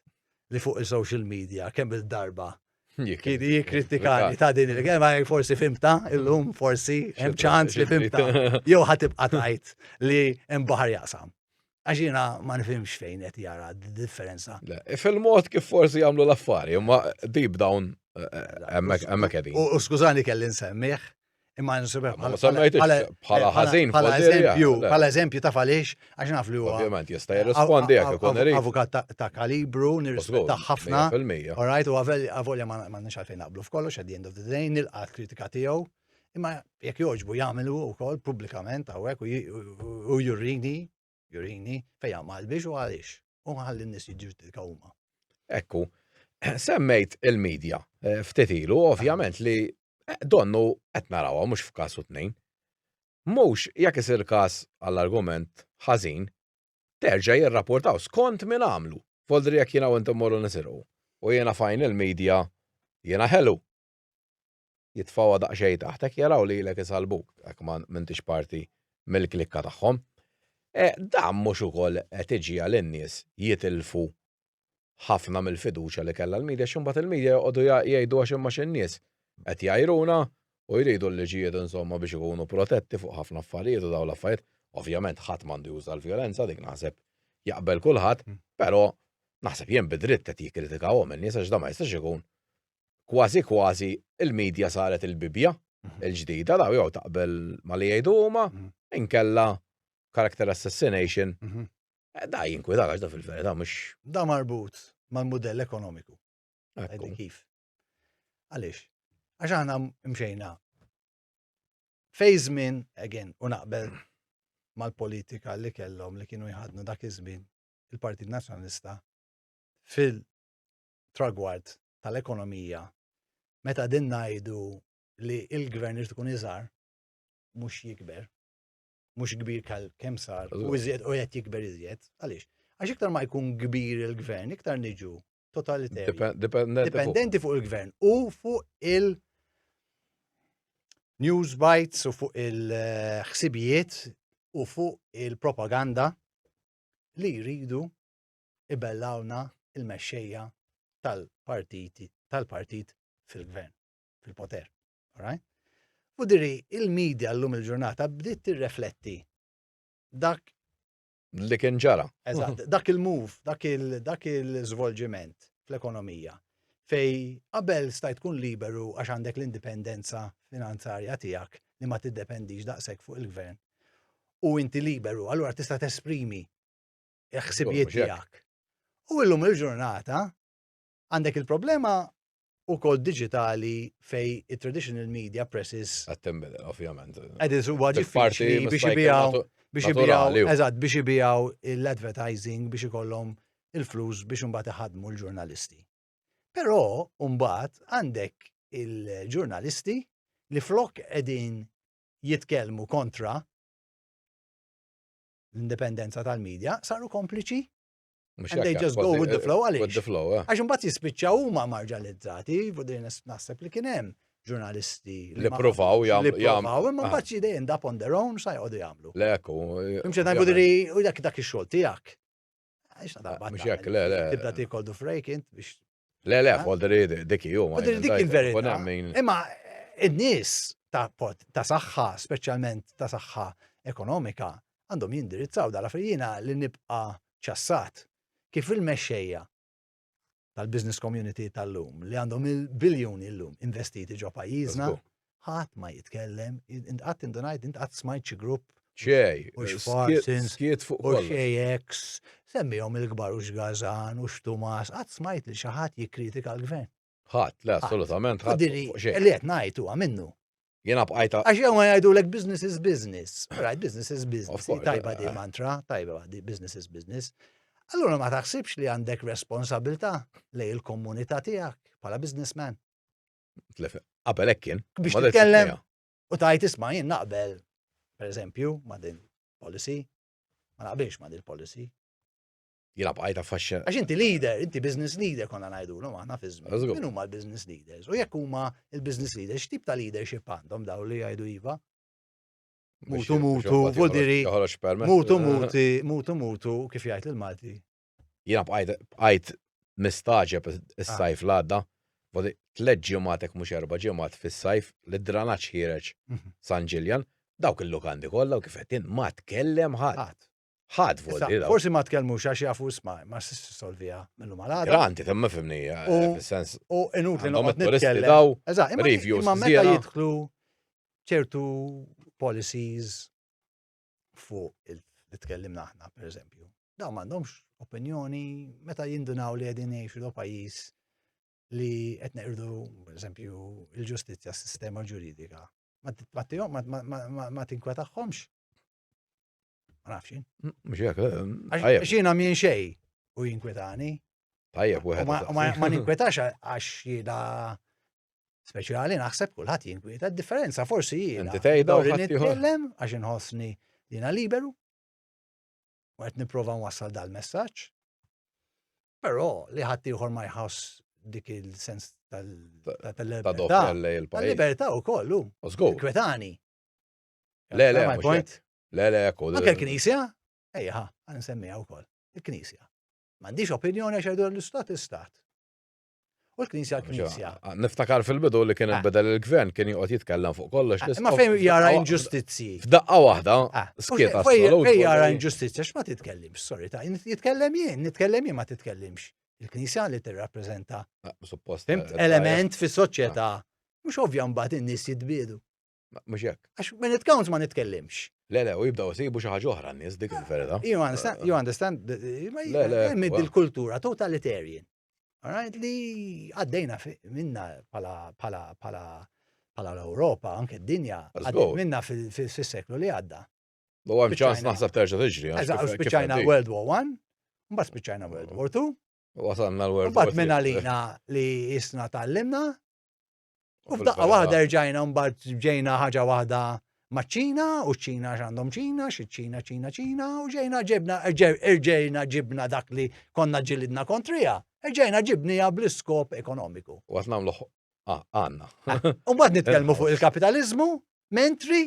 li fuq il-social media kemm il-darba kien jikritikani ta' din il-gema forsi fimta illum forsi hemm ċans li fimta jew ħatibqa' tajt li hemm baħar jaqsam. Għax jiena ma nifhimx fejn qed jara differenza. Fil-mod kif forsi jagħmlu l-affari, imma deep down eh, eh, hemmhekk qegħdin. U skużani kelli nsemmih Imma nsibek bħala. Bħala ħażin bħala eżempju, bħala eżempju ta' falix, għax naf li huwa. Ovvjament jista' jirrispondi jekk ikun irid. Avukat ta' kalibru, nirrispetta ħafna. All right, u għavolja ma nix għalfejn naqblu f'kollox, at the end of the day, nilqa' kritika tiegħu. Imma jekk joġbu jagħmlu wkoll pubblikament hawnhekk u jurrini Jurini, fejn hemm qalbix u għaliex, u nħalli n-nies jiġġudikaw huma. Hekk hu. Semmejt il-medja eh, ftit ilu, ovvjament li eh, donnu qed narawha mhux f'każ u tnejn. Mhux jekk isir każ għall-argument ħażin, terġa' jirrapportaw skont min għamlu. Foldri jekk jiena u intom morru nisirqu. U jiena fajn il-medja jiena ħelu. jitfgħuha daqsxejn taħtek jaraw lilek isallbuk jekk ma m'intix parti mill-klikka tagħhom. E dan mhux ukoll qed iġiegħel in-nies jitilfu ħafna mill-fiduċja li kellha l-media x'imbagħad il-media joqogħdu jgħidu għax imma x'in-nies qed jgħajruna u jridu l-liġijiet insomma biex ikunu protetti fuq ħafna affarijiet u dawn l-affarijiet. Ovvjament ħadd m'għandu juża l-vjolenza dik naħseb jaqbel kulħadd, però naħseb jien bidritt qed jikkritikawhom in-nies għax dan ma jistax ikun kważi kważi il-media saret il-Bibbja il-ġdida, daw jew taqbel ma li jgħidu huma, inkella character assassination. Mhm. Eh, da jinkwita għax da fil-verità mhux. Da marbut mal-mudell ekonomiku. Għedin kif. Għaliex? Għax aħna mxejna fej żmien, again, u naqbel mal-politika li kellhom li kienu jħadnu dak iż-żmien il-Partit Nazzjonalista fil tragward tal-ekonomija meta din ngħidu li il-gvern irid ikun iżgħar mhux jikber, mhux kbir kemm sar, u iżjed u qed jikber iżjed. Għaliex? Għax iktar ma jkun kbir il-gvern, iktar niġu totalitarju. Dipendenti fuq il-gvern u fuq il- news bites u fuq il-ħsibijiet u fuq il-propaganda li jridu ibellawna il-mexxejja tal-partiti tal-partit fil-gvern, fil-poter. Alright? U diri, il-medja l-lum il-ġurnata bdiet tirrefletti dak li kien ġara. Eżatt, dak il-move, dak il-żvolġiment fl-ekonomija fej qabel stajt tkun liberu għax għandek l-indipendenza finanzarja tiegħek li ma tiddependix daqshekk fuq il-gvern u inti liberu, allura tista' tesprimi il-ħsibijiet tiegħek. U illum il-ġurnata għandek il-problema u kol digitali fej il-traditional media presses. Għattem, ovvjament. Għediz u għagġi biex jibijaw, biex jibijaw, eżat, biex jibijaw l-advertising biex ikollhom il-flus biex unbat iħadmu l-ġurnalisti. Pero, unbat, għandek il-ġurnalisti li flok edin jitkelmu kontra l-indipendenza tal-medja, saru kompliċi. And they just go with the flow għaliex. Eh. Għax imbagħad jispiċċaw huma marġalizzati, din naħseb li kien hemm ġurnalisti li provaw jagħmlu. Li provaw, imma ah. mbagħad they end up on their own sa jgħodu jagħmlu. Leku. Imxed ngħidu li dak dak ix-xogħol tiegħek. Mux jek, le, le. Tibda ti koldu frejk int biex. Le, le, koldri dik jum. Koldri dik il-verita. Imma id-nis ta' pot, ta' saħħa, specialment ta' saħħa ekonomika, għandhom jindirizzaw dala frijina li nibqa ċassat. Kif il-mexxejja tal-business community tal-lum li għandhom il-biljuni l-lum investiti ġo pajjiżna, ħadd ma jitkellem, intqatt indunajt, intqatt smajt xi grupp. Ċej, u x'Farsin, skiet fuq u x'AX, semmihom il-kbar u x'Gazan u x'Tumas, qatt smajt li xi ħadd jikkritika l-gvern. Ħadd, le, assolutament ħadd. Diri, li qed ngħid huwa minnu. Jiena bqajta. Għax jew ma jgħidu lek business is business. Right, business is business. Tajba di eh. mantra, tajba di business is business. Allura ma taħsibx li għandek responsabilta lej il-komunità tiegħek bħala businessman. Qabel hekk kien. Biex titkellem u tajt isma' jien naqbel, per eżempju, ma' din policy, ma naqbilx ma' din policy. jilab għajta faxxa. Għax inti leader, inti business leader konna najdu, no, għana fizmi. Minu ma l-business leaders? U jekk huma il-business leaders, x'tip ta' leadership għandhom daw li jgħidu iva? Mutu mutu, vodiri, mutu muti, mutu mutu, kif jgħid il-Malti. Jilab għajt mistaġeb is-sajf ah. l-għadda, vodi tleġ ġematek mux erba ġemat fis-sajf li dranaċ ħireċ mhm. San Ġiljan, dawk il-lokandi kollha u kif qed ma tkellem ħadd. Ħadd vot Issa, dira. Forsi ma tkellmux għax jafu isma' ma s solvija mill-lum għal għada. Granti, temma fimni, eh, U- fil-sens. U inut li Għandhom noqgħod it-turisti nitkellem. daw, Eżatt, imma- reviews imma meta żiena. jidħlu ċertu policies fuq il- li tkellimna aħna, per eżempju. Daw m'għandhomx opinjoni meta jindunaw li qegħdin jgħixu do pajjiż li qed neqirdu, per eżempju, il-ġustizzja, s-sistema ġuridika. Ma t- ma tihom- ma- ma- ma- ma- ma tinkwetaħħomx. Ma nafx. Mhux hekk. Eh, Xina minn xej u jinkwetani. Tajjeb wieħed. Ma ninkwetax għax jieda speċjali naħseb kulħadd jinkweta. Differenza forsi jiena. Inti tgħidha u nitkellem għax inħossni jiena liberu. U qed nipprova nwassal dal-messaġġ. Però li ħadd ieħor ma jħoss dik il-sens tal-libertà. Tal-libertà u kollu. Kwetani. Le, le, my point. Le, le, ekku. Anke l-Knisja, ejja, għan nsemmiha wkoll. Il-Knisja. M'għandix opinjoni għax jgħidu l-istat istat. U l-Knisja l-Knisja. Niftakar fil-bidu li kien ah. beda l-gvern kien joqgħod jitkellem fuq kollox. Ah, ma fejn jara inġustizzji. F'daqqa waħda, ah, skiet Fejn jara inġustizzja x'ma titkellimx, sorry ta' jitkellem jien, nitkellem jien ma titkellimx. Il-Knisja li tirrappreżenta. Suppost. Eh, element fis-soċjetà. Mhux ovvja mbagħad in-nies jitbiedu. Mhux hekk. Għax minn it counts ma nitkellimx. Le, le, u jibdaw sibu xi ħaġa oħra n-nies dik il-verita. You understand, you understand, le, le. Mid il-kultura totalitarian. Alright, li għaddejna minna pala, pala, pala, pala l-Europa, anke d-dinja, għaddejna minna fil-seklu li għadda. U għam ċans naħseb terġa tiġri. Eżaw, spiċajna World War I, mbagħad spiċajna World War II. Wasanna l-World War II. Mbagħad minna lina li jisna tal-limna, U f'daqqa waħda rġajna mbagħad ġejna ħaġa waħda maċ-Ċina u ċ-Ċina x'għandhom Ċina, xi Ċina Ċina Ċina u ġejna ġibna rġejna ġibna dak li konna ġilidna kontrija. Rġejna ġibnija bl-iskop ekonomiku. U għat nagħmlu ah, għandna. U mbagħad nitkellmu fuq il-kapitaliżmu, mentri,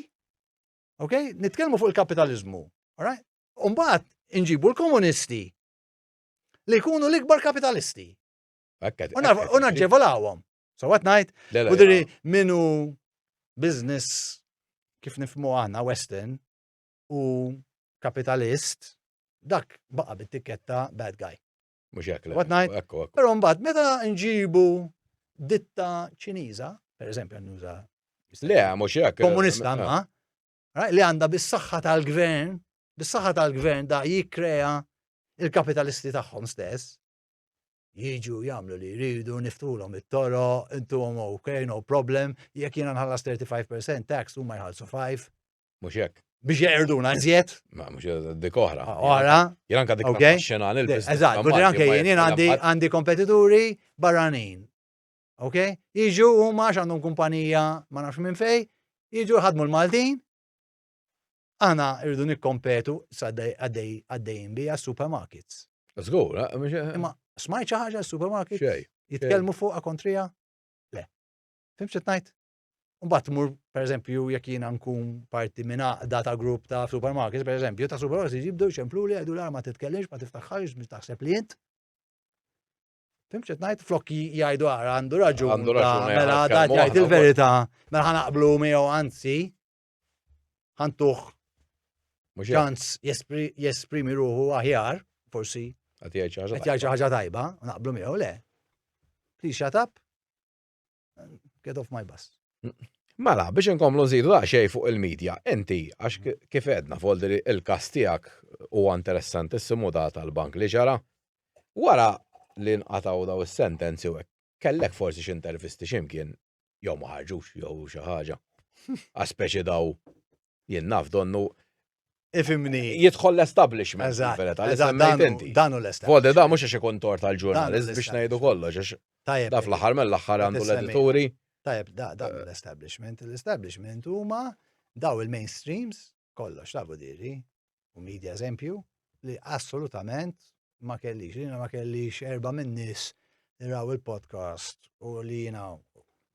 ok, nitkellmu fuq il-kapitaliżmu, alright? U mbagħad inġibu l-komunisti li jkunu l-ikbar kapitalisti. U naġġevolawhom. So what night? U diri minu business kif nifmu għana Western u kapitalist dak baqa bit-tikketta bad guy. Mux jek. What night? Ekku, ekku. Pero mbagħad meta nġibu ditta ċiniża, per eżempju nuża. Le, mux jek. Komunista ma. Li għanda bis-saħħa tal-gvern, bis-saħħa tal-gvern da jikkrea il-kapitalisti tagħhom stess, jiġu jagħmlu li jridu, niftulhom it-toro, intuhom ok, no problem, jekk jiena nħallas 35% tax huma jħallsu 5. Mhux hekk. Biex jgħirduna iżjed. Ma mhux dik oħra. Ah, oħra. Jien anke dik xena lil Eżatt, u anke jien għandi kompetituri barranin. Ok? Jiġu huma għax għandhom kumpanija ma nafx minn fej, jiġu ħadmu l-Maltin, Aħna rridu nikkompetu għaddejjin bija supermarkets. Zgur, imma smajt xi ħaġa supermarkets? Xej. Jitkellmu fuqha kontrija? Le. Fim xi tnajt? Mbagħad mur pereżempju jekk jiena nkun parti minn għaqda ta' grupp ta' supermarkets, pereżempju ta' supermarkets jibdew jxemplu li għedu l-arma titkellimx ma tiftaħħarx biex taħseb li int. Fim xi tnajt flokki jgħidu għara għandu raġun. Għandu raġun. Mela dat jgħid il-verità, mela ħanaqblu miegħu anzi ħantuħ ċans jesprimi ruħu aħjar, forsi. Għat jgħid ħaġa tajba, naqblu miegħu le. Please shut up. Get off my bus. Mela, biex inkomlu nżidu xej fuq il-medja, inti, għax mm. kif edna, foldi il-kas tijak u interessantissimu da tal-bank li ġara, wara li nqataw daw il-sentenzi u kellek forsi xintervisti ximkien jew ma ħarġux jew xi ħaġa. Għaspeċi daw jien naf donnu Ifimni. Jidħol l-establishment. Eżatt. Dan l-establishment. Vodi da mux għax ikun tor tal-ġurnalist biex najdu kollox. Tajab. Daf l-ħar mill-ħar għandu l-edituri. Tajab, da dan eh. l-establishment. L-establishment huma daw il-mainstreams kollox tafu diri, u media eżempju, li assolutament ma kellix, li ma kellix erba minn nis li raw il-podcast u li jina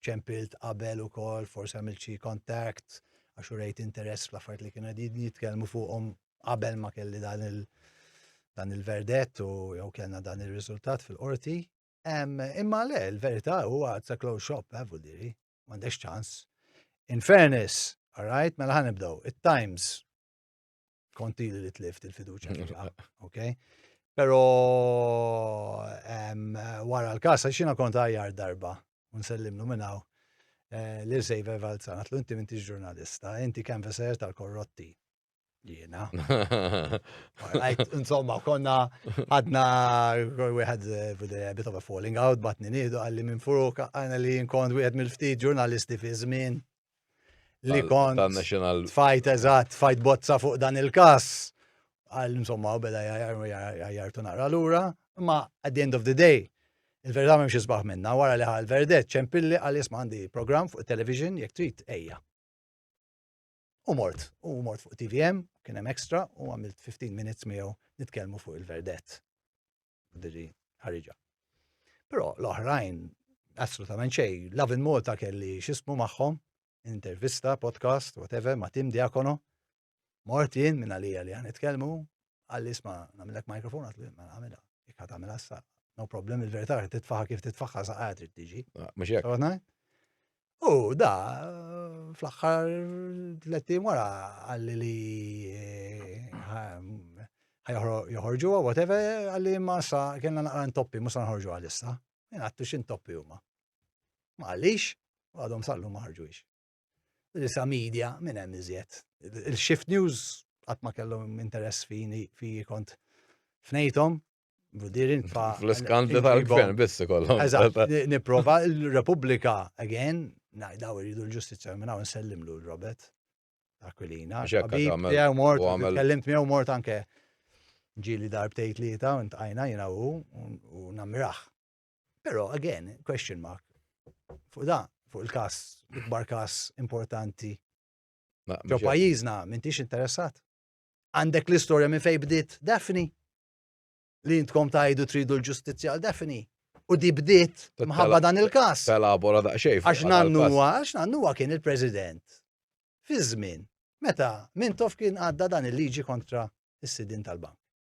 ċempilt qabel u kol, forse għamil xi kontakt, għax u rejt interess fl-affarijiet li kienu għedin jitkelmu fuqom qabel ma kelli dan il- dan il-verdett u jew kellna dan il-riżultat fil-qorti. Imma le, l-verità huwa it's a closed shop, eh, diri. m'għandekx ċans. In fairness, alright, mela ħan nibdew. It-Times konti li tlift il-fiduċa fiha, ok? Pero wara l-kas, xina kont għajar darba, unsellimlu minnaw, eh, li sejva valzana, tlu inti minti ġurnalista, inti kanvaser tal-korrotti. Jiena. Insomma, konna għadna wieħed eh, bit of a falling out, batni nidu għalli minn furuk għana li jinkont wieħed mill-ftit ġurnalisti fi żmien li kont fight eżatt, fight bozza fuq dan il-kas. Għal insomma, u beda jartu naqra l-ura, ma at the end of the day, il-verità ma mxie sbaħ minna, wara li ħal verdet ċempilli għal jisma għandi program fuq television jek trit ejja. U mort, u mort fuq TVM, kien hemm extra, u għamilt 15 minutes miegħu nitkellmu fuq il-verdett. Diri ħariġa. Però l-oħrajn assolutament xej, Love in Malta kelli xismu magħhom, intervista, podcast, whatever, ma' Tim Diakono. Mort jien minn għalija li għan nitkellmu, Għalli isma' nagħmilek mikrofon għatlu jien mela għamilha. Jekk ħadd għamilha sa no problem il-verità li titfaħa kif titfaħa sa qagħad trid tiġi. Ah, mhux hekk. U da fl-aħħar tletti wara għalli li eh, joħorġu whatever għalli ma sa kienna naqra ntoppi mhux nħorġu għalissa. Jien għattu xi ntoppi huma. Ma għalix, għadhom sallu ma ħarġux. Issa media, minn hemm iżjed. Il-shift news qatt ma kellhom interess fini fi kont fnejthom, Budirin fa. Fl-iskandli tal-gvern biss ikollhom. Eżatt, nipprova l-Repubblika again, najdaw iridu l-ġustizzja minn hawn nsellimlu l-Robert Aquilina. Jew mort, kellimt miegħu mort anke ġili darbtejt li ta' ntqajna jiena u nammiraħ. Pero, again, question mark. Fuq da, fuq il-kas, ikbar kas importanti. Ġo pajizna, mintix interessat. Għandek l-istoria minn fej bdiet Daphne. Li intkom tajdu tridu l-ġustizja għal Daphne. U di bdiet mħabba dan il-kas. Telabora da xejf. Għax nannuwa, għax nannuwa kien il-president. Fi żmien, meta Mintof kien għadda dan il-liġi kontra is-sidin tal-bank.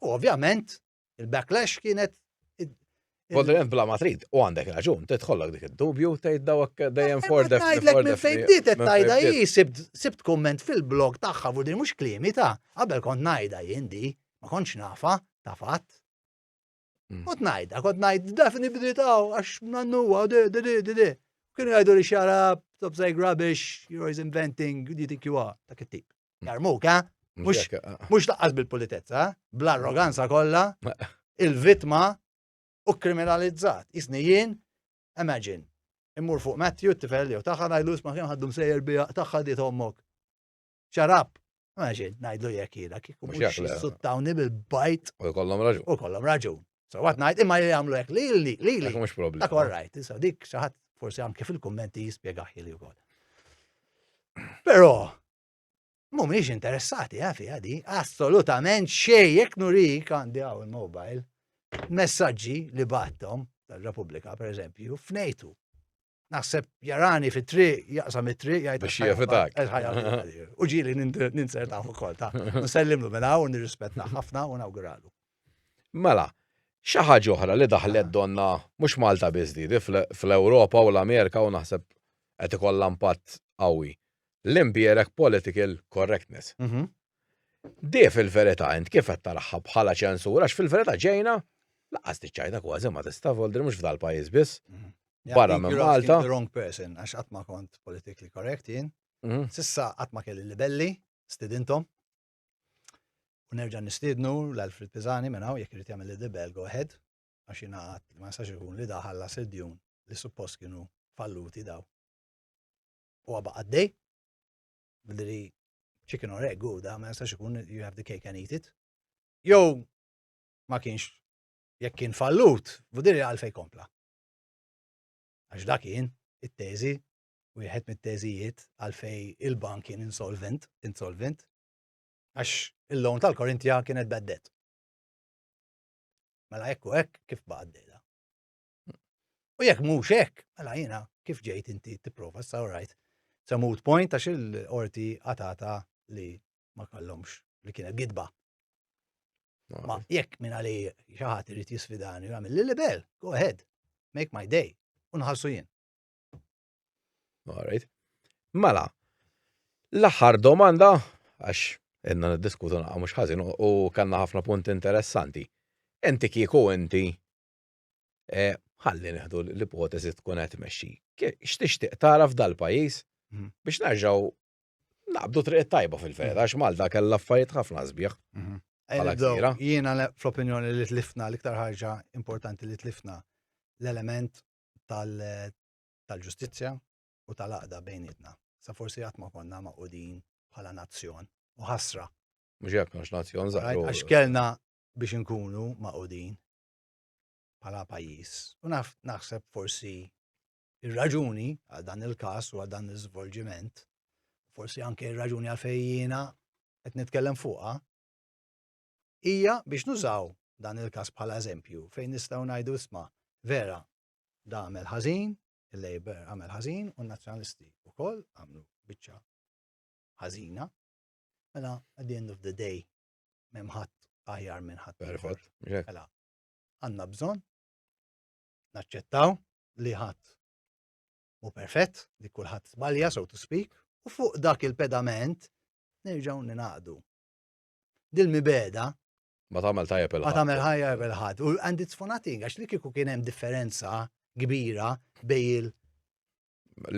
U ovvjament, il-backlash kienet Kont rent bla ma trid, u għandek raġun, titħollok dik id-dubju, tgħid dawk dejjem for the Tgħidlek minn fejn bdiet tajda hi sibt komment fil-blog tagħha fuq din mhux kliemi ta' qabel kont ngħidha jien di, ma kontx nafa ta' fatt. Mm. Kont ngħidha, kont ngħid dafni bditaw għax nannuwa de de de de de. Kienu jgħidu li xara top say rubbish, you're always inventing, you think you are, ta' kittib. Jarmuka, mhux laqqas bil-pulitezza, bl-arroganza kollha, il-vittma u kriminalizzat. Isni jien, imagine, immur fuq Matthew, t-tifel jew taħħa ngħidlu isma' kien ħaddu msejjer bija taħħa di tommok. Xarab, imagine, ngħidlu jekk jiena kif mhux suttawni bil-bajt. U kollhom raġun. U kollhom raġun. So what ngħid imma jagħmlu hekk lili, lili. Mhux problem. Dak all right, issa dik xi ħadd forsi anke fil-kummenti jispjegaħ li wkoll. Però Mumiex interessati eh, fiha di, assolutament xej jekk nurik għandi għaw il-mobile. Messaġġi li battom tal-Repubblika, per eżempju, f'nejtu. Naħseb jarani fit tri jaqsam it tri jgħid. Biex jafitak. U ġili ninserta fuq kol ta' nsellimlu minn hawn nirrispetta ħafna u nawguralu. Mela, xi ħaġa oħra li daħlet donna mhux Malta biżdi fl-Ewropa u l-Amerika u naħseb qed ikollha impatt qawwi. l-imbierek political correctness. Mhm. Di fil-verità int kif qed taraħħa bħala ċensura għax fil-verità ġejna laqas tiċċajta kważi ma tista' voldri mhux f'dal pajjiż biss. Mhm. Barra minn Malta. The wrong person għax qatt ma kont politically correct jien. Mhm. Sissa qatt ma kelli libelli stidintom. U nerġa' nistidnu l-Alfred Pizani minn hawn jekk irid jagħmel libel go ahead għax jiena qatt ma nistax ikun li daħalla sedjun li suppost kienu falluti daw. u għabba għaddej, billi chicken or egg u da, ma jistax ikun you have the cake and eat it. Jow, ma kienx, jekk kien fallut, budiri għalfej kompla. Għax da kien, it-teżi, u jħed mit-teżijiet għalfej il-bank kien insolvent, insolvent, għax il-lawn tal-Korintja kienet beddet. Mela ekku ek kif baqaddejda. U jekk mhux hekk, mela jiena kif ġejt inti tipprova sa rajt sa mood point għax il-qorti għatata li ma kallomx li kienet gidba. Ma jekk minn għali xi ħadd irid jisfidani jagħmel li libel, go ahead, make my day, u nħassu jien. Alright. Mela, l-aħħar domanda għax inna niddiskutu naqqa mhux ħażin u kellna ħafna punti interessanti. Inti kieku inti eh, ħalli neħdu l-ipoteżi tkun qed tmexxi. X'tixtieq tara f'dal pajjiż mhm. biex nerġgħu naqbdu triq tajba fil-vera, mhm. għax Malta kellha affarijiet ħafna sbieħ. Mhm. Jiena fl-opinjoni li tlifna l-iktar ħaġa importanti li tlifna l-element tal-ġustizzja u tal-aqda bejnietna. Sa forsi għatma konna ma' udin bħala nazzjon u ħasra. Mux jek, mux nazzjon zaħru. Għax kellna biex nkunu ma' udin bħala pajjiż. U naf naħseb forsi ir-raġuni għal dan il-każ u għal dan l-iżvolġiment, forsi anke ir-raġuni għal fejjina qed nitkellem fuqha, hija biex nużaw dan il-każ bħala eżempju fejn nistgħu ngħidu isma' vera da għamel ħażin, il-Labor għamel ħażin u n-Nazzjonalisti wkoll għamlu biċċa ħażina. Mela at the end of the day Mem ħadd aħjar minn ħadd. Mela, għandna bżonn naċċettaw li ħadd u perfett li kulħadd sbalja so to speak u fuq dak il-pedament nerġgħu ninaqdu. Dil-mibeda Ma tagħmel tajja bil Ma tagħmel ħajja bil ħad U and it's for nothing, għax li kieku kien hemm differenza kbira bej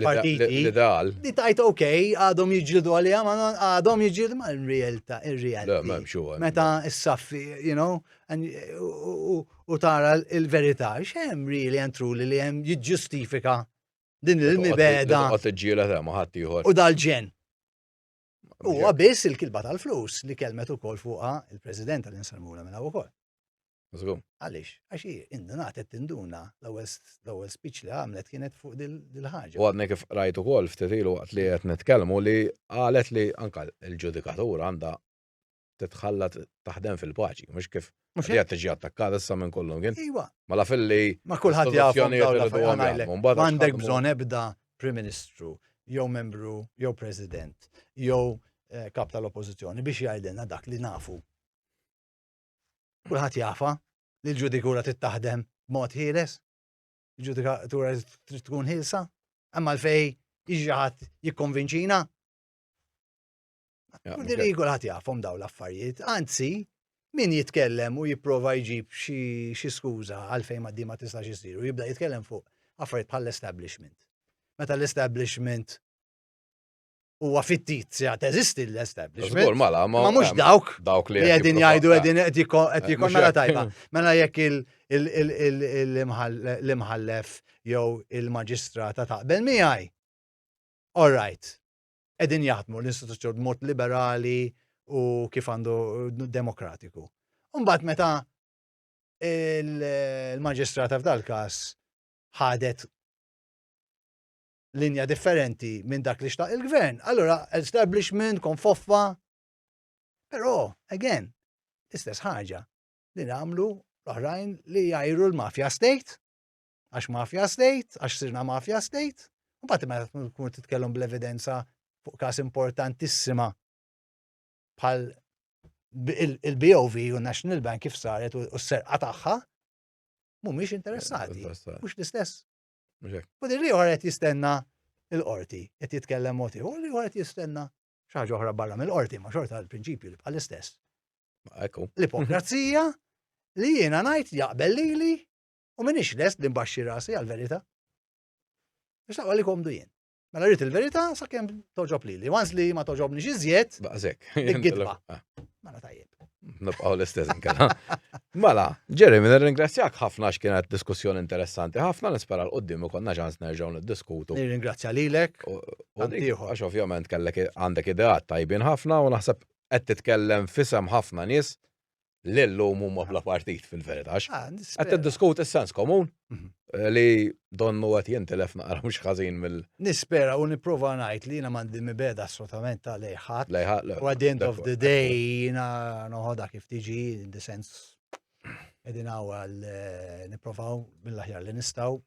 partiti. L-ideal. Li tajt ok, għadhom jġildu għalija, ma għadhom jġildu ma il-realta, il-realta. Meta s-saffi, you know, u tara il-verità, xem really and truly li jem jġustifika din il-mibeda. U dal-ġen. U għabis il-kilba tal-flus li kelmet u kol fuqa il-president tal-insalmura minna u kol. Għalix, għax indunat qed tinduna l-ewwel speech li għamlet kienet fuq dil-ħaġa. U għadni kif rajt ukoll ftit ilu waqt li qed nitkellmu li qalet li anka l-ġudikatura għandha titħalla taħdem fil-paċi, mhux kif mhux qed tiġi attakkata issa minn kollu kien. Iwa. Ma la filli ma kulħadd jafhom M'għandek bżonn ebda Prim Ministru jew membru jew President jew eh, kap tal-Oppożizzjoni biex jgħidilna dak li nafu. Kulħadd jafa li l-ġudikura tittaħdem mod ħieles, il-ġudikatura trid tkun ħilsa, imma l-fej iġi ħadd jikkonvinċina Kulli li jgħu ħat jafhom daw l-affarijiet. Anzi, min jitkellem u jipprova jġib xi skuża għalfejn ma ma tistax isir u jibda jitkellem fuq affarijiet bħall-establishment. Meta l-establishment huwa fittizja teżisti l-establishment. Żgur mala, ma mhux dawk dawk li qegħdin jgħidu qegħdin qed jikun mela tajba. Mela jekk l-imħallef jew il-maġistrata taqbel miegħi. All right. qegħdin jaħdmu l-istituzzjoni b'mod liberali u kif għandu demokratiku. Mbagħad meta il-maġistrata f'dal każ ħadet linja differenti minn dak li xtaq il-gvern, allora establishment kon foffa. Però, again, l-istess ħaġa li nagħmlu l-oħrajn li jajru l-mafja state għax mafia state, għax sirna mafia state, u bat meta tkun titkellem bl-evidenza fuq kas importantissima bħal il-BOV u National Bank kif saret u s-serqa tagħha mhumiex interessati. Mhux l-istess. U din li qed jistenna l-qorti qed jitkellem moti, u li qed jistenna xaġa oħra barra mill-qorti ma xorta l-prinċipju li bħal istess. L-ipokrazija li jiena ngħid jaqbel lili U minix lest li nbaxxi rasi għal-verita. Biex naqwa li komdu jien. Mela rrit il-verita sa' kem toġob li li. Once li ma toġobni xizjet. Baqzek. Gidba. Ah. Mela tajjeb. Nibqaw l-istess nkella. Mela, Jeremy, nirringrazzjak ħafna x'kienet diskussjoni interessanti ħafna nispera l-qoddim u konna ġans nerġgħu niddiskutu. Nirringrazzja lilek. Għax ovvjament kellek għandek ideat tajbin ħafna u naħseb qed titkellem fisem ħafna nies l-lum huma bla partit fil-verità. Ah, qed tiddiskuti s-sens komun mhm. eh, li donnu qed jintilef naqra mhux ħażin mill. Nispera u nipprova ngħid li jiena m'għandi mibeda assolutament ta' lejħat. Lejħat. U at the end of the day jiena noħodha kif tiġi in the sense qegħdin għal eh, nipprovaw mill-aħjar li nistgħu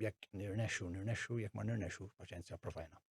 jekk nirnexxu nirnexxu jekk ma nirnexxu paċenzja provajna.